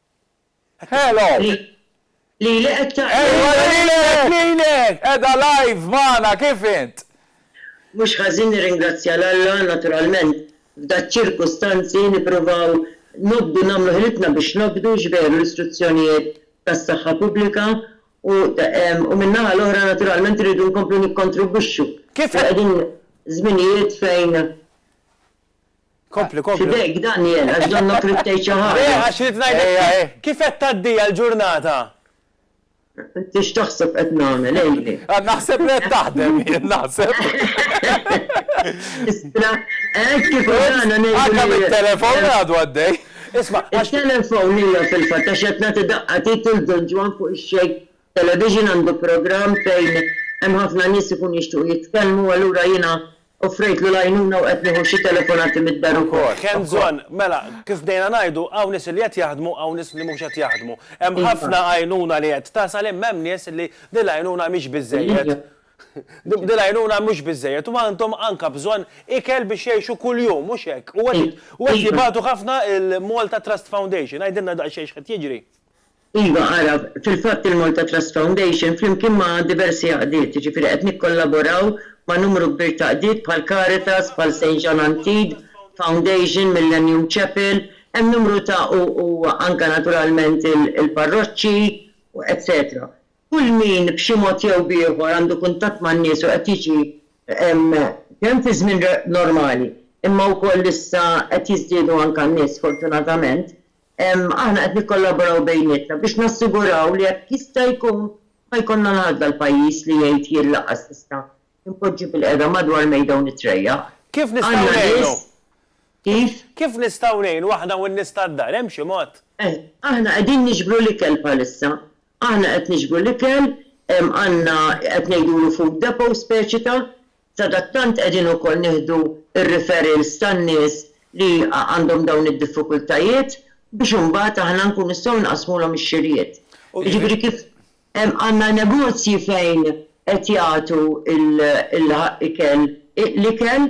Speaker 2: Hello!
Speaker 4: Lili qed tgħid. Ejwa lilek,
Speaker 2: lilek! Qiegħda live
Speaker 1: magħna, kif int? Mhux
Speaker 4: ħażin nirringrazzja 'l Alla, naturalment f'daċ-ċirkustanzi nippruvaw nobdu nagħmlu ħilitna biex nobdu x'veru l-istruzzjonijiet tas-saħħa pubblika u u min-naħa l-oħra naturalment irridu nkomplu nikkontribwixxu. Kif. Qegħdin żminijiet fejn. Kompli,
Speaker 2: kompli. F'idejk, Daniel, għax
Speaker 4: donnok ridt tgħid xi ħaġa. Le, għax ridt ngħidlek
Speaker 2: kif qed tgħaddiha l-ġurnata.
Speaker 4: Int x'taħseb qed nagħmel, għidli? Naħseb li qed
Speaker 1: taħdem jien, naħseb.
Speaker 4: Istra, hekk kif għadna ngħidu. Għadna mit-telefon
Speaker 1: li għadu għaddej. Isma'.
Speaker 2: It-telefon hija
Speaker 4: fil-fatt għax qed nagħti daqqa tgħid lil Don Ġwann fuq ix-xejk television għandu programm fejn hemm ħafna nies ikunu jixtiequ jitkellmu allura jiena Offrejtlu l-għajnuna u qed nieħu xi telefonati mid-dar ukoll. Hemm bżonn, mela,
Speaker 2: kif bdejna ngħidu, hawn nies li qed jaħdmu, hawn nies li mhux qed jaħdmu. Hemm ħafna għajnuna li qed tasal imma hemm nies li din l-għajnuna mhix biżżejjed. Din l-għajnuna mhux biżżejjed u għandhom anke bżonn ikel biex jgħixu kuljum, mhux hekk? U qed jibatu ħafna il-Malta Trust Foundation. Għidilna daqsxejn x'qed jiġri. Iva
Speaker 4: għaraf, fil-fatt il-Malta Trust Foundation flimkien ma' diversi għaqdiet, jiġifieri qed nikkollaboraw ma' numru kbir ta' qdiet bħal Caritas, bħal Saint Jean Antide Foundation, Millennium Chapel, hemm numru ta' u u anke naturalment il-parroċċi u etsetera. Kull min b'xi mod jew b'ieħor għandu kuntatt man-nies u qed jiġi kemm fi żmien normali imma wkoll issa qed jiżdiedu anke n-nies sfortunatament Aħna qed nikkollaboraw bejnietna biex nassiguraw li jekk jista' jkun ma jkollna l-għażla l-pajjiż li jgħid jien lanqas nista' inpoġġi bil-qiegħda madwar mejda u nitrejjaq. Kif nistgħu ngħinu?
Speaker 2: Kif?
Speaker 4: Kif nistgħu
Speaker 2: ngħinu aħna u n-nies tad-dar? Hemm xi mod? Eh, aħna qegħdin
Speaker 4: niġbru l-ikel bħalissa. Aħna qed niġbru l-ikel, għandna qed ngħidulu food depot speċi ta', Sadattant qegħdin ukoll nieħdu r-referrals tan-nies li għandhom dawn id-diffikultajiet biex imbagħad aħna nkunu nistgħu nqassmulhom ix-xirjiet. Jiġifieri kif hemm għandna negozji fejn qed jagħtu l-ikel, l-ikel,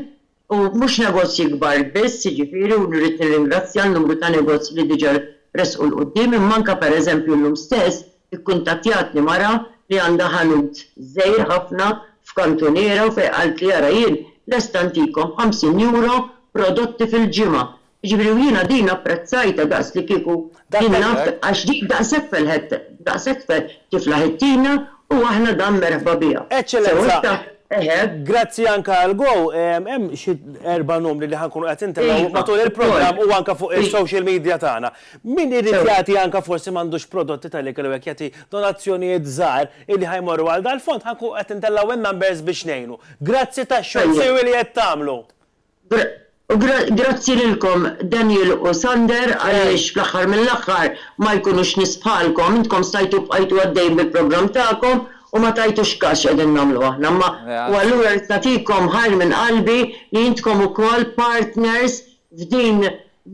Speaker 4: u mhux negozji kbar biss, jiġifieri u rrid nirringrazzja n-numru ta' negozji li diġà resqu 'l quddiem, imma anke pereżempju llum stess Ikkuntattjatni mara li għandha ħanut żgħir ħafna f'kantuniera u fejn qaltli ara jien lesta ntikom b'ħamsin euro prodotti fil-ġimgħa. Jiġifieri u jiena din apprezzajtha daqs li kieku jien naf għax din daqshekk felħet daqshekk tiflaħ it-tina u aħna
Speaker 2: dan
Speaker 4: merħba biha. Sew hekk ta' eħe.
Speaker 2: Grazzi anke għal Go hemm xi erba' numri li ħa nkunu qed intennew matul il-programm u anke fuq is-social media tagħna. Min irid jagħti anke forsi m'għandux prodotti tal-ikel u hekk jagħti donazzjonijiet żgħar illi ħa jmorru għal dal-fond ħa nkunu qed intellgħu in-numbers biex ngħinu. Grazzi tax-xogħol siwi li qed tagħmlu. U grazzi
Speaker 4: lilkom Daniel u Sander għaliex fl-aħħar mill-aħħar ma jkunux nies bħalkom, intkom stajtu bqajtu għaddejjin bil-programm tagħkom u ma tajtux każ x'qegħdin nagħmlu aħna imma u allura rrid nagħtikom ħajr minn qalbi li intkom ukoll partners f'din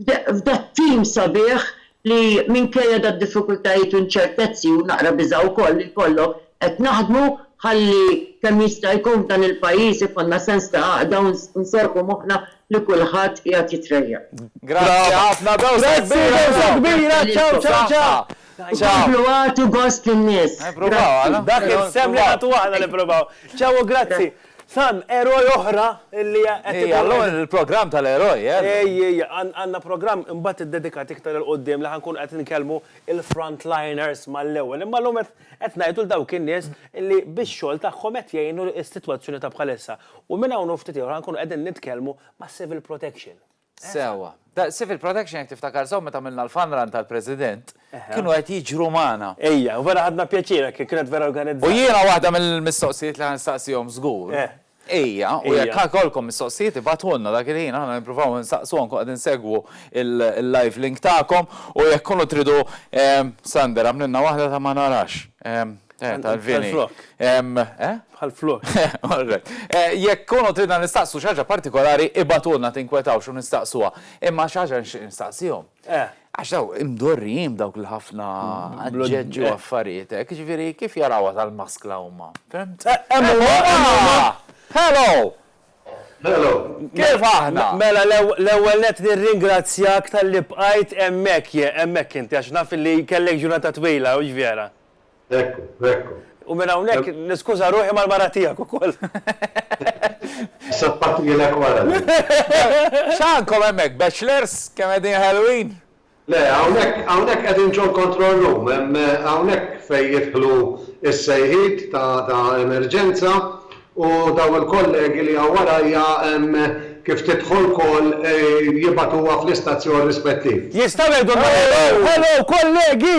Speaker 4: f'dat-tim sabiħ li minkejja dad-diffikultajiet u inċertezzi, u naqra biża' wkoll li jkollok, qed naħdmu ħalli kemm jista' jkun f'dan il-pajjiż ikollna sens ta' għaqda u nserrħu moħħna li kulħadd qiegħed jitrejjaq. Grazzi ħafna,
Speaker 1: bewsa kbira
Speaker 2: u komplu
Speaker 4: agħtu gost lin-nies. Grazzi. Dak
Speaker 2: is-sehem li nagħtu aħna nippruvaw. Ciao u grazzi. Sam, eroj oħra li qed idur. Ejja, llum
Speaker 1: il-programm tal-eroj, eh? Ejja, ejja, għandna
Speaker 2: programm imbagħad iddedikat iktar 'il quddiem li ħa nkunu qed inkellmu l-frontliners mal-ewwel. Imma llum qed ngħidu 'l dawk in-nies li bix-xogħol tagħhom qed jgħinu s-sitwazzjoni ta' bħalissa. U minn hawn u ftit ieħor ħa nkunu qegħdin nitkellmu mas-Civil Protection. Sewwa.
Speaker 1: Civil Protection jekk tiftakar sew meta għamilna l-fun run tal-President, kienu qed jiġru magħna. Ejja, u vera ħadna
Speaker 2: pjaċir hekk kif kienet vera organizzata. U jiena waħda
Speaker 1: mill-mistoqsijiet li ħa nistaqsihom żgur hija, u jekk ħa jkollkom mistoqsijiet ibagħtulna dak il-ħin aħna nippruvaw insaqsu anke qegħdin insegwu l-live link tagħkom u jekk tkunu tridu, Sander, għamlilna waħda ta' ma narax. Tal-vini.
Speaker 2: Bħal-flok.
Speaker 1: Jekk kunu tridna nistaqsu xaġa partikolari, ibatulna tinkwetaw xo nistaqsuwa. Imma xaġa nistaqsijom. Għax daw imdorrijim dawk l-ħafna għadġeġu għaffarietek, eh, ġviri kif jarawa tal-maskla umma. Hello! Hello!
Speaker 6: Kif
Speaker 1: aħna? Mela, l-ewel
Speaker 2: net nir-ringrazzjak tal-li bqajt emmek, emmek inti, għax naf li kellek ġurnata twila, u ġvjera. Ekku, ekku.
Speaker 6: U minn hawnhekk
Speaker 2: niskuża ruħi mal-mara tiegħek ukoll.
Speaker 6: Sappatilek wara din.
Speaker 1: X'għandkom hemmhekk, bachelors kemm qegħdin ħelwin? Le, hawnhekk,
Speaker 6: hawnhekk qegħdin ġol-control room, hemm hawnhekk fejn jidħlu s-sejħiet ta' emerġenza u dawn il-kollegi li hawn warajja kif tidħol call jibagħtuha fl-istazzjon rispettiv. Jistgħu jgħidulna hello,
Speaker 2: hello kollegi!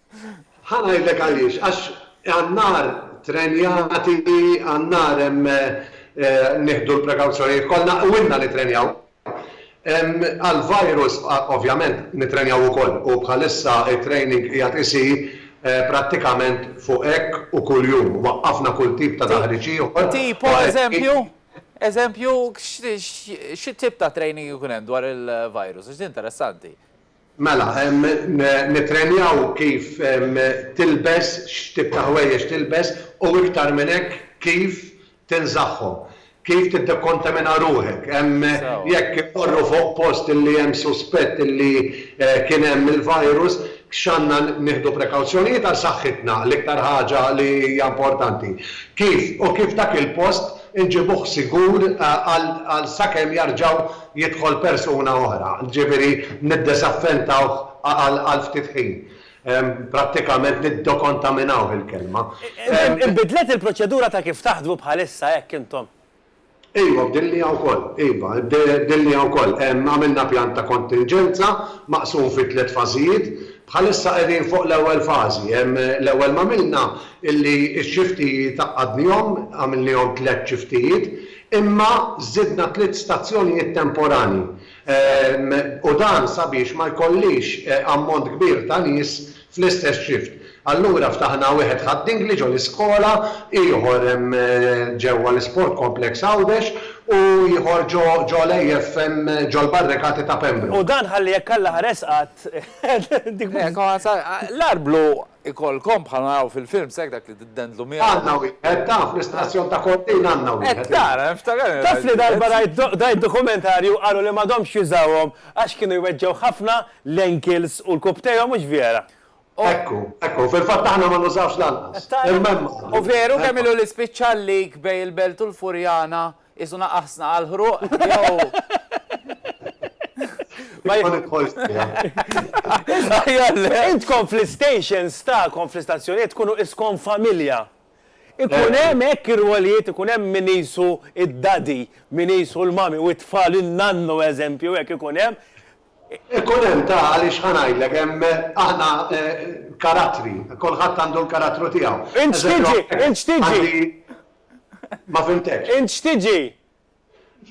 Speaker 6: Ħa ngħidlek għaliex, għax għan-nar trenjati, għan-nar hemm nieħdu l-prekawzjonijiet kollha u ilna nittrenjaw. Għall-virus ovvjament nittrenjaw ukoll u bħalissa t-training qiegħed isir prattikament fuq hekk u kuljum. Waqqafna kull tip ta' taħriġ ieħor. Tipo eżempju?
Speaker 1: Eżempju, xi tip ta' training ikun hemm dwar il-virus? Għax din interessanti. Mela,
Speaker 6: nittrenjaw kif tilbes, x'tip ta' ħwejjeġ tilbes u iktar minn hekk kif tinżagħhom. Kif tiddekontamina ruħek. Jekk immorru fuq post li hemm suspett li kien hemm il-virus, x'għandna nieħdu prekawzjonijiet għal saħħitna, l-iktar ħaġa li hija importanti. Kif u kif dak il-post inġibuh sigur għal sakemm jarġgħu jidħol persuna oħra, jiġifieri niddesaffentawh għal ftit ħin. Prattikament niddekontaminawh il-kelma. Inbidlet
Speaker 2: il-proċedura ta' kif taħdmu bħalissa hekk intom? Iva,
Speaker 6: bdilniha wkoll. Iva, bdilniha wkoll. Għamilna pjan ta' kontinġenza maqsum fi tliet fażijiet. Bħalissa qegħdin fuq l-ewwel fażi. L-ewwel m'għamilna illi x-xiftijiet għaqqadnihom, għamilnihom tliet xiftijiet, Imma żidna tliet stazzjonijiet temporanji u dan sabiex ma jkollix ammont kbir ta' nies fl-istess shift. Allura ftaħna wieħed ħad-Dingli ġo l-iskola, ieħor ġewwa l-Isport Complex Għawdex u ieħor ġo l-AF ġol-barrikati ta' Pembroke. U dan ħalli jekk Alla
Speaker 2: ħares qatt.
Speaker 1: L-Arblu Ikollkom bħal ma naraw fil-films hekk dak li tiddendlu miegħu. Għandna wieħed, taf,
Speaker 6: l-istazzjon ta' Cortina għandna wieħed. Qed tara, niftakarni rajt. Taf li
Speaker 2: darba rajt rajt dokumentarju u qalu li m'għadhomx jużawhom għax kienu jweġġgħu ħafna l-ankles u l-kubtejhom mhux vjera? Ekku,
Speaker 6: ekku, fil-fatt aħna ma nużawhx lanqas. Qed tara? Imma hemm għadhom. U veru
Speaker 1: kemm ilu li spiċċa l-leak bejn il-Belt u l-Furjana? Qisu naqaħsna għall-ħruq jew.
Speaker 2: Ma jidħolx Intkom fl-istations tagħkom fl-istazzjonijiet tkunu iskom familja. Ikun hemm hekk ir-rwolijiet, ikun hemm min qisu d-daddy, min qisu l-mommy u t-tfal in-nannu eżempju hekk ikun hemm. Ikun
Speaker 6: hemm ta' għaliex ħa ngħidlek hemm aħna karattri, kulħadd għandu l-karattru tiegħu. Int x'tiġi? Int
Speaker 2: x'tiġi?
Speaker 6: Ma fhimtekx. Int x'tiġi?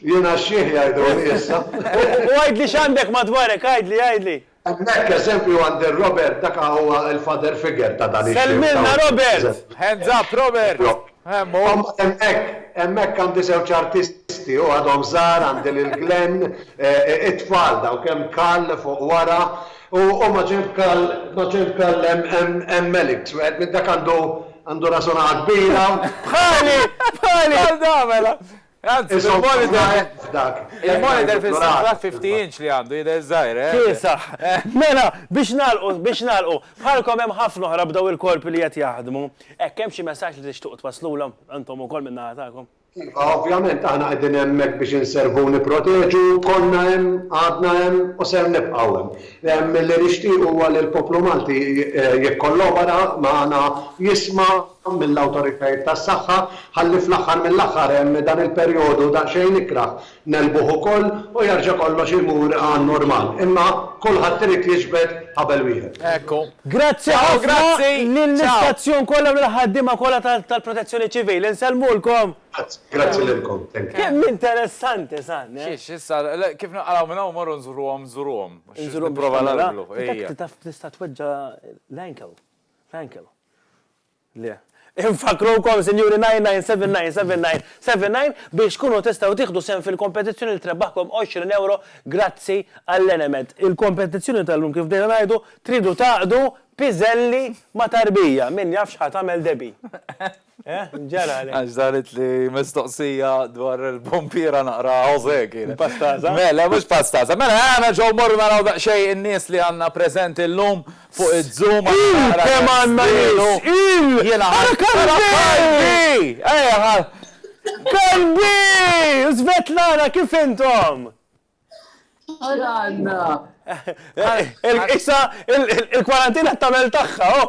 Speaker 2: Jiena
Speaker 6: xħiħ jgħiduli issa. U għidli
Speaker 2: x'għandek madwarek, għidli, għidli. Hemmhekk eżempju
Speaker 6: għand ir-Robert dak huwa l-father figure ta' dan ix-xieħ. Sellmilna Robert!
Speaker 2: Hands up Robert!
Speaker 1: Hemm hu. Hemmhekk, hemmhekk
Speaker 6: għandi żewġ artisti, hu għadhom żgħar, għandi lil Glenn, it-tfal dawk hemm Karl fuq wara, u ma' ġenb Karl, ma' ġenb Karl hemm Alex, wieħed minn dak għandu, Għandu rażona kbira. Bħali!
Speaker 1: Bħali! Għal da mela! Anzi, il-monitor. Il-monitor fil-saqqa 50 inch li għandu jidher żgħir, eh? Kiesaħ.
Speaker 2: Mela, biex nagħlqu, biex nagħlqu. Bħalkom hemm ħafna oħra b'daw il-korpi li qed jaħdmu. Hekk hemm xi messaġġ li tixtuq twaslulhom, intom ukoll minn naħa tagħkom. Iva, ovvjament aħna
Speaker 6: qegħdin hemmhekk biex inservu u nipproteġu, konna hemm, għadna hemm u ser nibqgħu hemm. Li nixtiequ huwa li l-poplu Malti jikkollobora magħna, jisma' mill-awtoritajiet tas-saħħa, ħalli fl-aħħar mill-aħħar dan il-perjodu daqsxejn ikrah Negħlbuh ukoll u jerġa' kollox imur għan-normal. Imma kulħadd irid jiġbed ħabel wieħed. Hekk hu. Grazzi
Speaker 2: ħafna lill-istazzjon kollha u lill-ħaddiema kollha tal-Protezzjoni Ċivili. Nsellmulkom. Grazzi, grazzi lilkom.
Speaker 6: Thank you. Kemm interessanti
Speaker 2: san, eh? Xiex, issa, le, kif
Speaker 1: naqalgħu minn hawn morru nżuruhom, nżuruhom. Inżuruhom biex nipprova nagħmilha. Ejja. Taf tista'
Speaker 2: tweġġa' l-ankle. L-ankle. Le. Infakkrukom, Sinjuri 99799779 biex tkunu tistgħu tieħdu sehem fil-kompetizzjoni li trebaħkom 20 ewro grazzi għall-Enemed. Il-kompetizzjoni tal-lum kif bdejna ngħidu, tridu tgħaqqdu piżelli ma' tarbija, min jaf x'ħa tagħmel Debbie. Eh? Ġara għalhekk. Għax daret li
Speaker 1: mistoqsija dwar il-pompiera naqra Josè kienet. Pastaza? Mela,
Speaker 2: mhux pastaza.
Speaker 1: Mela, għana ġew morru naraw daqsxejn in-nies li għandna preżenti llum. Fuq iz-zoom għax naqra kemm
Speaker 2: żmienu jiena ħadt
Speaker 1: qalbi!
Speaker 2: Qalbi! Svetlana kif intom? Ara għandna! Issa il-kwarantina qed tagħmel tagħha, oh!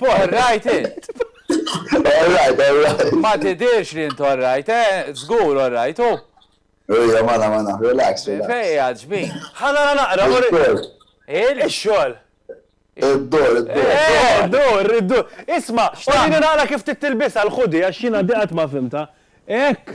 Speaker 1: All right int! All right, all right.
Speaker 7: Ma tidirx li int all
Speaker 1: right, eh? Zgur all right, u? Ejja, mana,
Speaker 7: mana, relax, relax. Fej, għadġbin.
Speaker 1: Ħana naqra,
Speaker 2: mur. Il-xol. Id-dor, id-dor. Id-dor, Isma, xtaqni naqra kif tittilbisa l-ħudi, għax jina diqat ma fimta. Ek,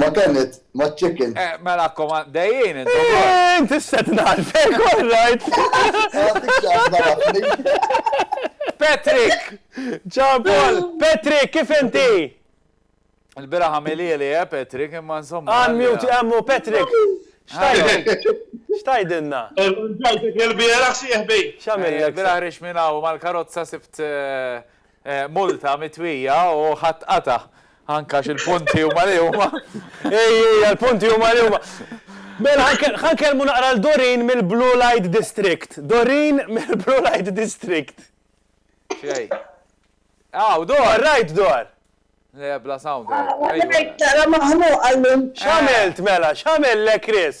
Speaker 7: Ma kanit, ma chicken. Eh, mela koma,
Speaker 1: dejjien, intu. Eh, inti
Speaker 2: s-set narfek, all right.
Speaker 1: Patrick!
Speaker 2: Ciao, Paul! Patrick, kif inti?
Speaker 1: Il-bira ħamili li, eh, Patrick, imma insomma. Għan mute, għammu,
Speaker 2: Patrick! Xtajdinna? Ġajtek il-bira
Speaker 8: xieħbi. Xamil, il-bira ħrix
Speaker 2: minna u
Speaker 1: mal-karozza sibt eh, Multa mitwija u ħa tqata'. Anke għax il-punti huma li huma. Ej, ej,
Speaker 2: għall-punti huma li huma. Mela, ħa nkellmu naqra 'l Doreen mill-Blue Light District. Doreen mill-Blue Light District.
Speaker 1: X'jgħid? Hawn, dor! Warrajt, dor!
Speaker 2: Le, bla
Speaker 1: sound. Warrajt, naqra
Speaker 4: maħnuqa llum. X'għamilt, mela?
Speaker 2: X'għamel le Chris?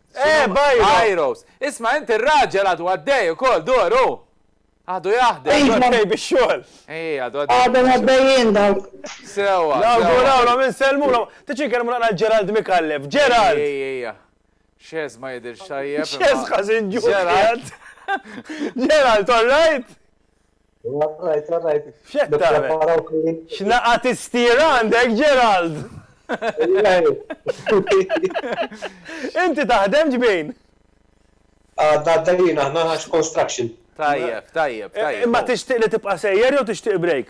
Speaker 1: Eh, Byros! Isma' int ir-raġel għadu għaddej ukoll, dur hu! Għadu jaħdem. Għadu għaddej bix-xogħol.
Speaker 2: Ej, għadu għaddej.
Speaker 1: Għadhom għaddejjin
Speaker 4: dawk. Sewwa.
Speaker 1: Nawgurawlhom,
Speaker 2: insellmulhom. Tiġi nkellmu naqra Gerald Micallef. Gerald! Ej, ej, ej.
Speaker 1: Xeż ma jidhirx tajjeb. Xeż ħażin ġuħ.
Speaker 2: Gerald, all right?
Speaker 8: All right, all right. X'qed
Speaker 2: tagħmel? X'naqa' tistier għandek, Gerald? Inti taħdem ġbin? Għadna għaddejjin
Speaker 8: aħna għax construction. Tajjeb, tajjeb, tajjeb.
Speaker 1: Imma tixtieq
Speaker 2: li tibqa' sejjer jew tixtieq break?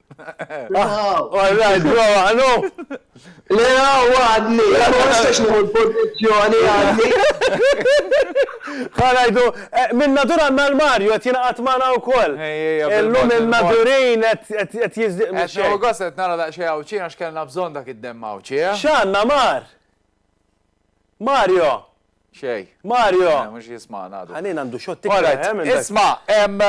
Speaker 2: All right, bro, għanu! Le,
Speaker 8: għaw, għadni, għaw, għastax nħu l-pozizjoni, għadni.
Speaker 2: Għanajdu, eh, minn nadur għanna l-Marju, għet jina għatmana u koll. Illu minn nadurin, għet jizdiq. Għet xo għost, għet nara daqxie
Speaker 1: għawċina, xkellna bżon dak id-dem għawċie. Eh? Xanna, mar!
Speaker 2: Mario! Xejn.
Speaker 1: Mario! Le, mhux
Speaker 2: jismagħna għadu.
Speaker 1: Ħanin għandu xogħol tikka Alright,
Speaker 2: eħe minn dak. isma',
Speaker 1: ehm,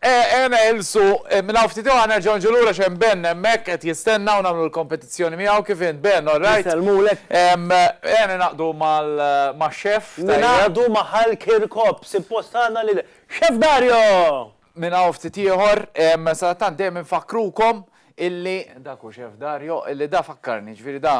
Speaker 1: eħe neħilsu, minn hawn ftit ieħor nerġgħu niġu lura x'hemm Ben hemmhekk qed jistenna u nagħmlu l-kompetizzjoni miegħu, kif int Ben, all right? Nisellmulek. Ehm,
Speaker 2: eħe
Speaker 1: ningħaqdu mal, max-xef, tajjeb? Ningħaqdu ma'
Speaker 2: Hal Kirkop, sippost għandna lil Xef Dario! Minn hawn
Speaker 1: ftit ieħor, ehm, sadattant dejjem infakkrukom illi, dak hu Xef Dario, illi da fakkarni, jiġifieri da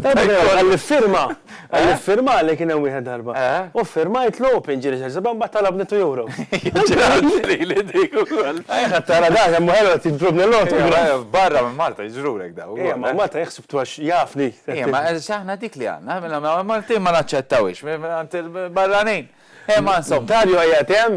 Speaker 2: Għall-iffirma, għall-iffirma li kien hemm wieħed darba. U ffirmajt l-open ġieli xi seba' mbagħad talabni two euros. Lili
Speaker 1: dik ukoll. Ejja tara dak hemm
Speaker 2: ħelu qed jidrobni l-autograf. Barra minn Malta
Speaker 1: jiġrulek daw. Ejja ma' Malta jeħseb
Speaker 2: twax jafni. Ejja ma' aħna
Speaker 1: dik li għandna, mela ma' Maltin ma naċċettawhiex, mela barranin. Ejja ma' insomma. Dario qiegħed hemm,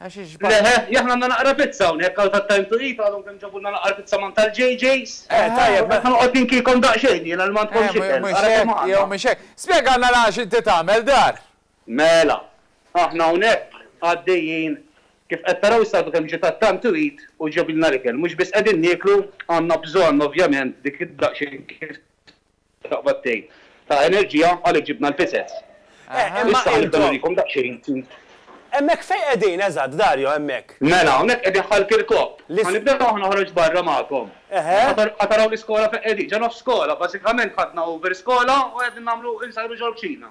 Speaker 2: Għax ixbah. Le heh,
Speaker 8: jahna għandna naqra pizza hawnhekk għal that time to eat, għadhom kemm ġabulna l-aqqar pizza man tal-JJ's. Eh, tajjeb, mela. Qed
Speaker 2: noqgħod ninkikom
Speaker 8: daqsxejn jiena li m'għandkomx ikel, ara kemm għandna. Eh, mhux hekk, jew mhux hekk.
Speaker 1: Spjegalna l-għala xi inti tagħmel dar. Mela,
Speaker 8: aħna hawnhekk għaddejjin, kif qed taraw issa għadu kemm ġie that time to eat u ġabilna l-ikel. Mhux biss qegħdin nieklu, għandna bżonn ovvjament dik id-daqsxejn kif Taqbad tgħid. Ta' enerġija għalhekk ġibna l-pisets. Issa ħa nibda nurikom daqsxejn. Hemmhekk
Speaker 2: fejn qegħdin eżatt, Dario, hemmhekk? Mela, hawnhekk qegħdin
Speaker 8: ħal Kirkop. Ħa nibda aħna noħroġ barra magħkom. Ħa taraw l-iskola fejn qegħdin. Ġo nofs skola, bażikament ħadna over skola u qegħdin nagħmlu,
Speaker 1: insajru
Speaker 8: ġol-kċina.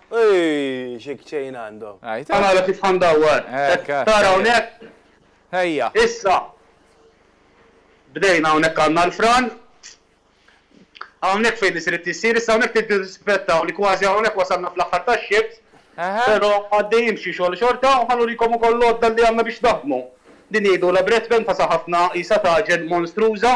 Speaker 8: Ejjj,
Speaker 2: xi kċejn għandhom. Ħa nara kif ħa
Speaker 8: ndawwar. Qed tara hawnhekk? Ejja.
Speaker 1: Issa,
Speaker 8: bdejna hawnhekk għandna l-fran. Hawnhekk fejn isir it-tissir, issa hawnhekk trid tirrispettaw li kważi hawnhekk wasalna fl-aħħar tax-xiebs, però għaddejjin b'xi xogħol xorta u ħa nurikom ukoll l-għodda li għandna biex naħdmu. Din jgħidulha breadpan, fasa ħafna, qisha tagħġen monstruża.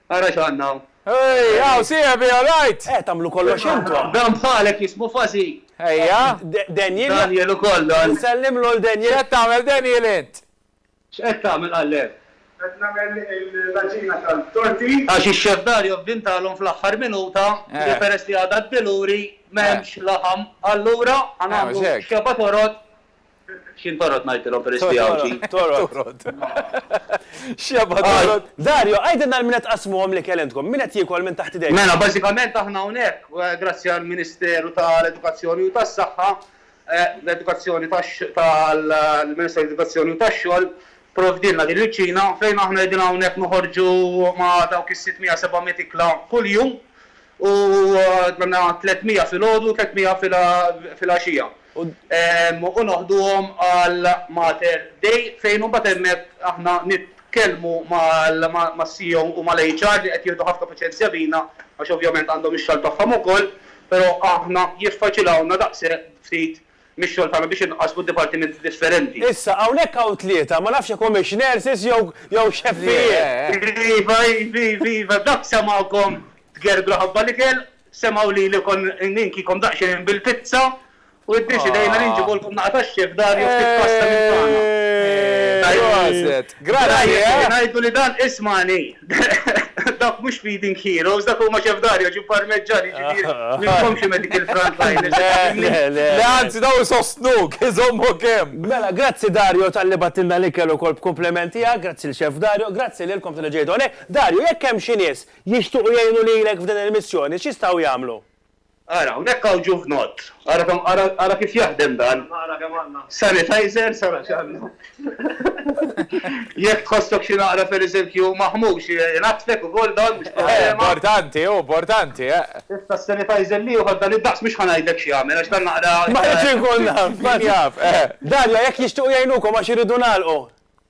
Speaker 8: Ara x'għandna hawn. Hey, hawn
Speaker 1: sieħbi, all right? Eh, tagħmlu kollox intom.
Speaker 2: Dan bħalek jismu
Speaker 8: Fuzzy. Ejja.
Speaker 1: Daniel. Daniel
Speaker 2: ukoll dan.
Speaker 8: Nsellimlu 'l Daniel.
Speaker 2: X'qed tagħmel Daniel
Speaker 1: int? X'qed tagħmel
Speaker 8: qallew? Qed nagħmel l-għaġina tal-torti. Għax ix-Chef Dario vvintalhom fl-aħħar minuta li peress li għadha d-Diluri m'hemmx laħam allura ħa nagħmlu xeba toroq X'jien torrod ngħidtilhom peress li Għawdxi? Torrod.
Speaker 2: X'jabha torrod? Dario, għidilna għal min qed tqassmuhom l-ikel intkom? Min qed jiekol minn taħt idejkom? Mela, bażikament aħna
Speaker 8: hawnhekk, grazzi għall-Ministeru tal-Edukazzjoni u tas-Saħħa, l-Edukazzjoni tal-Ministeru tal-Edukazzjoni u tax-Xogħol pprovdielna din il-kċina fejn aħna qegħdin hawnhekk noħorġu ma' dawk is-sittmija, sebagħmiet ikla kuljum. U tmemna tliet mija filgħodu u tliet mija filgħaxija. U noħduhom għal Mater Dei fejn imbagħad hemmhekk aħna nitkellmu mas-CEO u mal-HR li qed jieħdu ħafna paċenzja bina għax ovvjament għandhom ix-xogħol tagħhom ukoll, però aħna jiffaċilawlna daqshekk ftit mix-xogħol tagħna biex inqassmu dipartimenti differenti. Issa, hawnhekk hawn
Speaker 2: tlieta, ma nafx jekk humiex nurses jew jew xeffijiet. Iva, iv, iv, iva, dak semgħukom
Speaker 8: tgergru ħabba l-ikel, semgħu lili kont ninkikom daqsxejn bil-pizza u iddeċidejna li nġibulkom naqa' tax-chef Dario ftit pasta minn tagħna. Eeeh, proset! Grana hi
Speaker 1: eh? Ngħidu li dan
Speaker 8: ismani. Dawk mhux feeding heroes, dak huma Chef Dario ġie parmeġġan jiġifieri minkom xi medical frontliners. Le, le, le. Le anzi dawn
Speaker 1: isostnuk, iżommok hemm. Mela grazzi Dario
Speaker 2: talli bagħtilna l-ikel ukoll b'kumpliment tiegħek, grazzi lil Chef Dario, grazzi lilkom talli ġejtu hawnhekk. Dario jekk hemm xi nies jixtuqu jgħinu lilek f'din il-missjoni x'jistgħu jagħmlu? Ara, hawnhekk
Speaker 8: hawn ġuvnott. Ara kemm, ara, ara kif jaħdem dan. Ara kemm għandna. Sanitizers, ara x'għandna. Jekk tħossok xi naqra, per eżempju, maħmux, jingħattfek ukoll dan, mhux problema. Eh, importanti, hu
Speaker 1: importanti, eh. Issa
Speaker 8: s-sanitizer li jieħod dan id-daqs mhux ħa ngħidlek x'jagħmel għax dan naqra. Ma rridx inkun naf,
Speaker 2: min jaf, eh. Dalja, jekk jixtiequ jgħinukom għax iridu nagħlqu.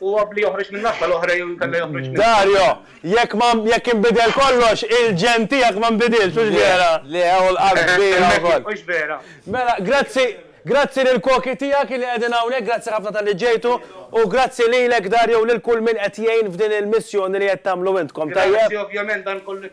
Speaker 8: U għabb li joħroġ minn nassa l-oħra jew inkella joħroġ minn. Dario, Jekk
Speaker 2: ma, jekk inbidel kollox, il-ġenn tiegħek ma nbidilx, hux vera? Le, le, u l-qalb
Speaker 1: kbira wkoll. Hux vera? Mela,
Speaker 8: grazzi,
Speaker 2: grazzi lill-koki tiegħek li qegħdin hawnhekk, grazzi ħafna talli ġejtu, u grazzi lilek Dario u lil kull min qed jgħin f'din il-missjoni li qed tagħmlu intkom, tajjeb? Grazzi, ovvjament dan
Speaker 8: kollu.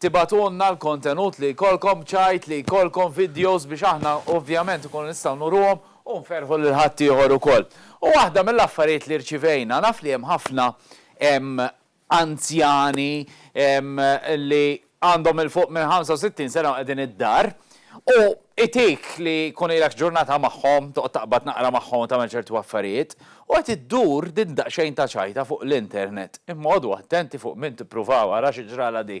Speaker 1: Tibagħtulna l-kontenut li jkollkom, b'ċajt li jkollkom, vidjos biex aħna ovvjament inkunu nistgħu nuruhom u nferrħu lil ħaddieħor ukoll. U waħda mill-affarijiet li rċivejna, naf li hemm ħafna anzjani li għandhom 'il fuq minn 65 sena u qegħdin id-dar, U itik li jkun ilek ġurnata magħhom, toqgħod taqbad naqra magħhom u tagħmel ċertu affarijiet, u qed iddur din daqsxejn ta' ċajta fuq l-internet. Imma qogħdu attenti fuq min tippruvaw, ara xi ġralha di.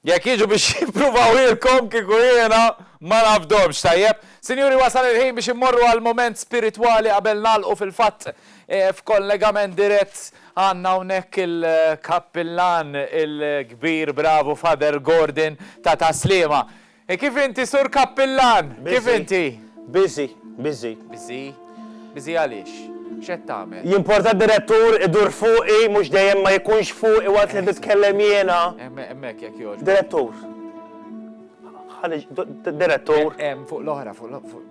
Speaker 1: Jekk jiġu biex jippruvawhielkom kieku jiena ma nafdhomx, tajjeb? Sinjuri wasal il-ħin biex immorru għal mument spiritwali qabel nagħlqu fil-fatt f'kollegament dirett għandna hawnhekk il-kappillan il-kbir bravu Father Gordon ta' Tas-Sliema. E kif inti, Sur Kappillan? Kif inti? Busy.
Speaker 2: Busy. Busy?
Speaker 1: Busy għaliex? X'qed tagħmel? Jimporta d-Direttur
Speaker 2: idur fuqi, mhux dejjem ma jkunx fuqi waqt li nitkellem jiena. Hemmhekk jekk jogħġbok.
Speaker 1: Direttur.
Speaker 2: Direttur. Hemm fuq l-oħra, fuq.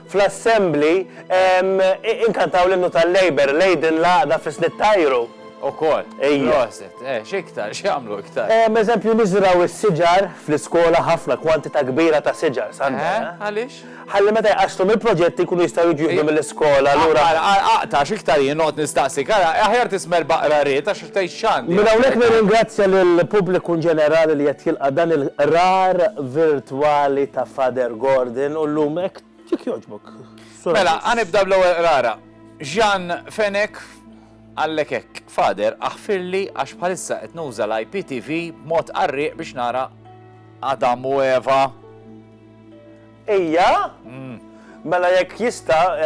Speaker 2: fl-Assembly, inkantaw l-Innu tal-Labour, Leiden l-Għaqda fis-Slitt Tajru. Ukoll.
Speaker 1: Proset. Eh, x'iktar, x'jagħmlu iktar? Eżempju, niżraw
Speaker 2: is-siġar fl-iskola ħafna kwantità kbira ta' siġar, Sandra. Eh, għaliex? Ħalli
Speaker 1: meta jqaxxlu
Speaker 2: mill-proġetti jkunu jistgħu jiġu jieħdu mill-iskola lura. Ara, ara, aqta' x'iktar
Speaker 1: jien noqgħod nistaqsik, ara, aħjar tisma' l-baqra ried għax Minn hawnhekk nirringrazzja
Speaker 2: lill-pubbliku inġenerali li qed jilqa' dan il-qrar virtwali ta' Father Gordon u llum hekk jekk jogħġbok, Sur Agius. Mela, ħa
Speaker 1: nibda bl-ewwel qrara. Jean Fenech Għallek hekk, Father, aħfirli għax bħalissa qed nuża l-IPTV b'mod qarrieq biex nara Adam u Eva. Ejja?
Speaker 2: Mela jekk jista'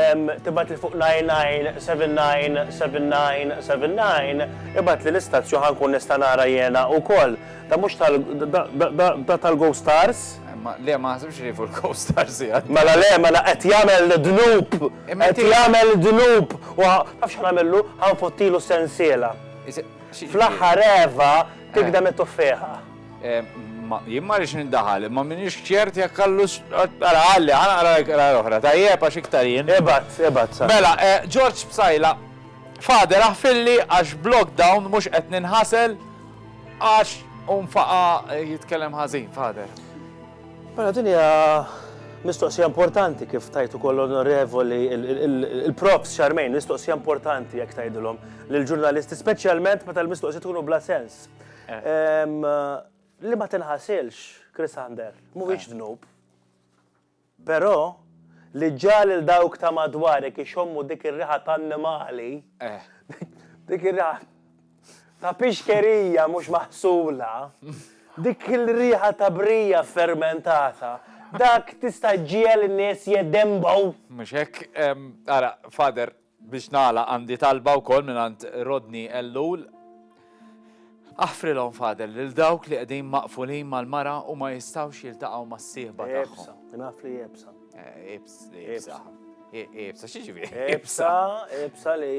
Speaker 2: tibgħatli fuq 99799979 ibgħatli l-istazju ħa nkun nista' nara jiena wkoll. Da mhux tal da tal-Go Stars? Ma le ma ħsibx
Speaker 1: li fuq il-Go Stars hija. Mela le mela qed
Speaker 2: jagħmel dnub. Qed jagħmel dnub. U taf x'ħa nagħmillu? Ħa nfottilu sensiela. Fl-aħħar Eva tikdem it-tuffieħa.
Speaker 1: Jien ma rridx nindaħal, imma m'iniex ċert jekk għallux. Ara, għalli, għana għara għara l-oħra, tajjeb għax iktar jien. Ebat, ebat, sa.
Speaker 2: Mela,
Speaker 1: George Psajla, Fader aħfilli għax b'lockdown mhux qed ninħasel għax unfaqa jitkellem ħażin, Fader. Mela
Speaker 2: din hija mistoqsija importanti kif tajtu koll onorevoli il-props xarmejn, mistoqsija importanti jekk tajdilhom lill-ġurnalisti, speċjalment meta l-mistoqsija tkunu bla sens. Li ma tinħasilx, Chris Ander, mhuwiex dnub. Però li ġġagħal lil dawk ta' madwarek ixommu dik ir-riħa ta' annimali, dik ir-riħa ta' pixkerija mhux maħsula, dik ir-riħa ta' brija fermentata, dak tista' ġġiegħel in-nies jeddenbgħu. Mhux hekk?
Speaker 1: Ara, Father, Biex nagħlaq għandi talba wkoll mingħand Rodney Ellul. Aħfrilhom Father lil dawk li qegħdin maqfulin mal-mara u ma jistgħux jiltaqgħu mas-sieħba tagħhom. Iebsa, naf li iebsa.
Speaker 2: Eh, ibs, ibsa.
Speaker 1: Ibsa, xi ġifieri? Ibsa,
Speaker 2: ibsa li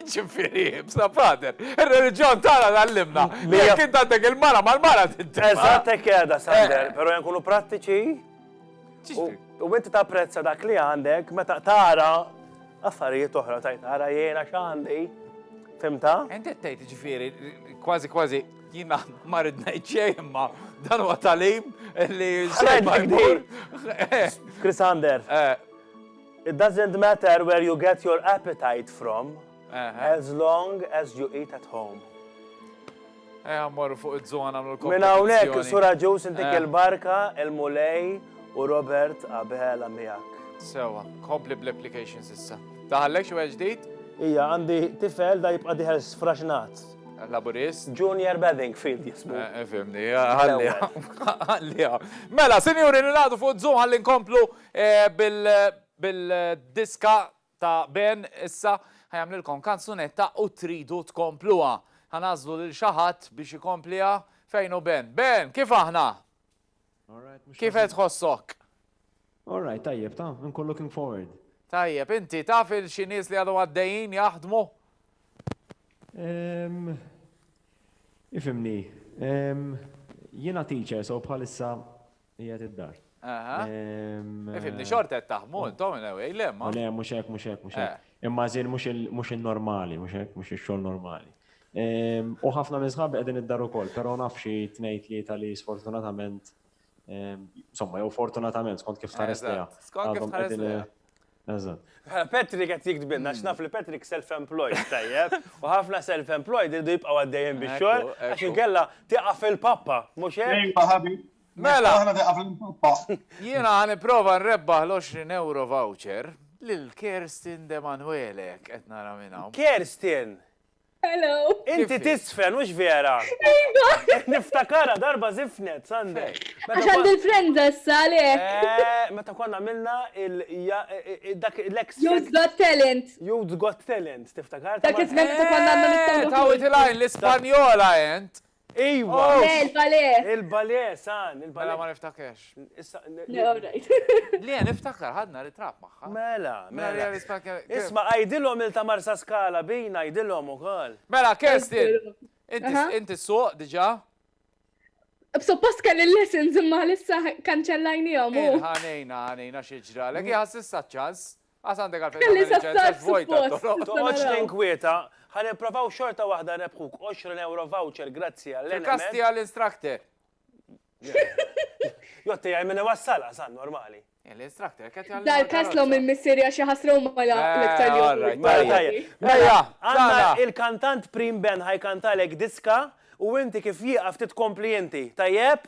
Speaker 1: ċifiri, bsa pater, il-reġjon tara għallimna. Li jek intantek il-mara, mal-mara t-tessa. Eżatt, keda,
Speaker 2: Sander, eh. pero jankunu prattiċi. U inti tapprezza dak li għandek meta tara affarijiet oħra tajt tara jiena x'għandi. Fimta? Inti tgħid
Speaker 1: ġifieri kważi kważi jiena ma rid ngħid xejn imma dan huwa talim li
Speaker 2: Chris Ander. Eh. It doesn't matter where you get your appetite from as long as you eat at home.
Speaker 1: Ejja mmorru fuq iz-zoo nagħmlu l-kompetizzjoni. Minn hawnhekk, Sur
Speaker 2: Agius intik il-barka, il-Mulej u Robert Abela miegħek. Sewwa, kompli
Speaker 1: bl-applications issa. Daħallek xi wieħed ġdid? Ija, għandi
Speaker 2: tifel da jibqa' dieħel sfraxnat. Laburist?
Speaker 1: Junior Bedingfield
Speaker 2: jismu. Fimni,
Speaker 1: ħalliha. Ħalliha. Mela, sinjuri nilaqgħdu fuq zoo ħalli nkomplu bil-diska Ta' Ben, issa, ħa jagħmlilkom kanzunetta u tridu tkompluha. Ħa nagħżlu lil xi ħadd biex ikompliha. Fejn hu Ben? Ben, kif aħna? Kif qed
Speaker 9: tħossok? All right, tajjeb, ta', inkun
Speaker 1: looking
Speaker 9: forward.
Speaker 1: Tajjeb, inti taf il xi nies li għadhom għaddejjin jaħdmu? Ehm,
Speaker 9: ifhimni, ehm, jiena teacher so bħalissa Qiegħed id-dar. Aha.
Speaker 1: Ifimni xorta qed taħmu intom in a way, le ma. Le, mhux hekk, mhux hekk, mhux
Speaker 9: hekk. Eh. Imma żin mhux in-normali, mhux hekk, mhux ix-xogħol normali. U ħafna minn sħabi qegħdin id-dar ukoll, però naf xi tnejn tlieta li sfortunatament, insomma, jew fortunatament skont kif tħares lejha. Skont kif tħares
Speaker 1: lejha. Eżatt.
Speaker 9: Patrick qed
Speaker 2: jiktbilna x'naf li Patrick self-employed tajjeb, u ħafna self-employed irdu jibqgħu għaddejjin bix-xogħol għax inkella tieqaf il-pappa, mhux hekk? Ejwa ħabi. Mela. Aħna
Speaker 1: tieqaf il-pappa. Jiena ħa nipprova nrebbaħ l-20 ewro voucher lil Kerstin Demanuele, qed nara minn hawn. Kerstin!
Speaker 2: Hello.
Speaker 10: Inti tiżfen,
Speaker 2: hux vera? Iva. Niftakarha darba żifnet, Sande. Għax għandi
Speaker 10: l-frenza issa għalhekk. Eh, meta konna għamilna
Speaker 2: dak l-ex. Youth Got Talent.
Speaker 10: Youth Got Talent,
Speaker 2: tiftakar? Dak iż-żmien meta konna
Speaker 10: għandna l-isptar. Tawwit il-għajn
Speaker 1: l-Ispanjola int. Ejwa! Le,
Speaker 2: il-balè!
Speaker 10: Il-balè,
Speaker 2: san, il-balè. Mela ma niftakerx.
Speaker 1: Issa. Le,
Speaker 10: all right. Le, niftakar, ħadna ritratt
Speaker 1: magħha. Mela, mela.
Speaker 2: Isma' għidilhom il ta' Marsaskala bina għidilhom ukoll. Mela,
Speaker 1: Kerstin, inti ssuq diġà?
Speaker 10: Suppost kelli l-lessons imma għalissa kkanċellajniehom. Ħa ngħinha, ħa
Speaker 1: ngħinha xi ġralek. Hi ħadd s'issa ċ-ċans. Għas għandek għalfejn tagħmel liċenzja
Speaker 10: vojta t-toroq. Toqgħodx tinkwieta,
Speaker 2: ħa nipprovaw xorta waħda nrebħuk 20 euro voucher grazzi għal Enemed. Fil-każ tiegħi l-instructor. Jo tiegħi min iwassal għas għan normali. L-instructor qed
Speaker 1: jgħallimha. Dal-każ l-omm il-missier hija
Speaker 10: xi ħasra huma l-iktar li jgħallimha. Mela,
Speaker 2: għandna il-kantant Prim Ben ħajkantalek diska u inti kif jieqaf titkompli inti. Tajjeb?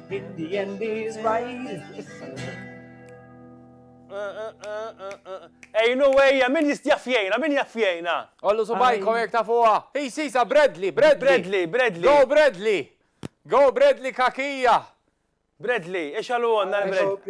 Speaker 2: In the end is right. Ejnu ejja, min jistjafjena, min jafjena? Ollu subajkom
Speaker 1: jek ta' fuqa. Hi sisa, Bradley, Bradley. Bradley, Bradley. Go
Speaker 2: Bradley.
Speaker 1: Go Bradley kakija. Bradley,
Speaker 2: ix għalu għonna l-Bradley.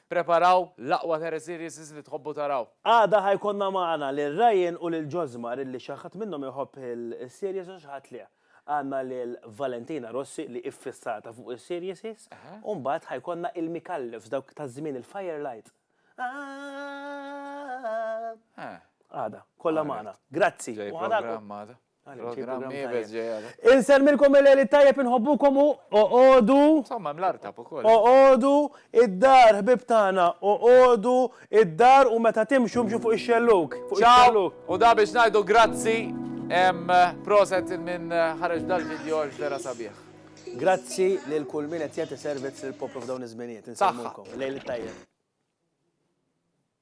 Speaker 1: Preparaw l-aqwa Terra Series li tħobbu taraw. Għada ħa jkollna
Speaker 2: magħna lil Ryan u lil Josmar illi xi ħadd minnhom iħobb is-series u xi ħadd le. Għandna lil Valentina Rossi li iffissata fuq is-serieses u mbagħad ħa jkollna il-Micallefs dawk ta' żmien il-Firelight. Għada. Kollha magħna. Grazzi u ħa nagħlqu.
Speaker 1: Insemmilkom il-Eli
Speaker 2: tajjeb inħobbukom u oqodu. Somma mlarta
Speaker 1: ukoll. Oqodu
Speaker 2: id-dar ħbib tagħna, oqodu id-dar u meta timxu mxu fuq ix-xelluk. Ciao! U da
Speaker 1: biex ngħidu grazzi proset minn ħareġ dal-video għax vera sabiħ. Grazzi
Speaker 2: lil kull min qed jagħti servizz lill-poplu f'dawn iż-żminijiet. Insemmilkom. Lejl it-tajjeb.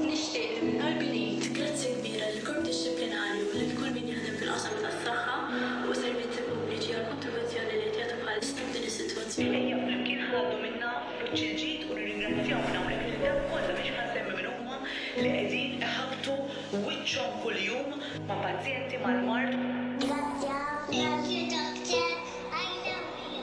Speaker 11: Nixtieq li minn qalbi ngħid grazzi kbira lill-Korp Dixxiplinarju u lil kull min jaħdem fil-qasam tas-saħħa u s-servizzi pubbliċi għall-kontribuzzjoni li qed jagħtu bħalissa f'din is-sitwazzjoni. Ejja flimkien ħa ngħaddu minnha b'wiċċ il-ġid u nirringrazzjaw minn hawnhekk lil dawk kollha, mhux ħa nsemmi min huma, li qegħdin iħabbtu wiċċhom kuljum ma' pazjenti mal-mard. Grazzi ħafna
Speaker 12: Sur Doctor, għajnewni.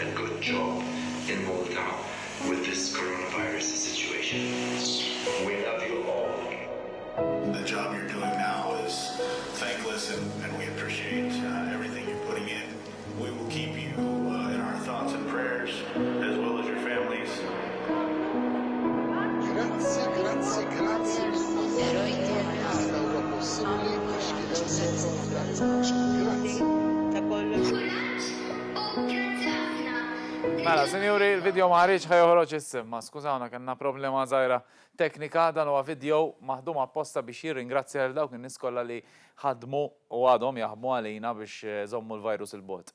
Speaker 13: Il-good job, il-Malta with this coronavirus situation. We love you all. The
Speaker 14: job you're doing now is thankless and we appreciate everything you're putting in. We will keep you in our thoughts and prayers as well as your families. Grazzi, grazzi, grazzi
Speaker 1: mill-Erojtu għada huwa possibbli għax kien hemm Malta u Franza. Grazzi. Mela, sinjuri, il-video ma ħariġx, ħa joħroġ issa. Imma skużawna, kellna problema żgħira teknika. Dan huwa video maħdum apposta biex jirringrazzja lil dawk in-nies kollha li ħadmu u għadhom jaħdmu għalina biex iżommu l-virus 'il bogħod.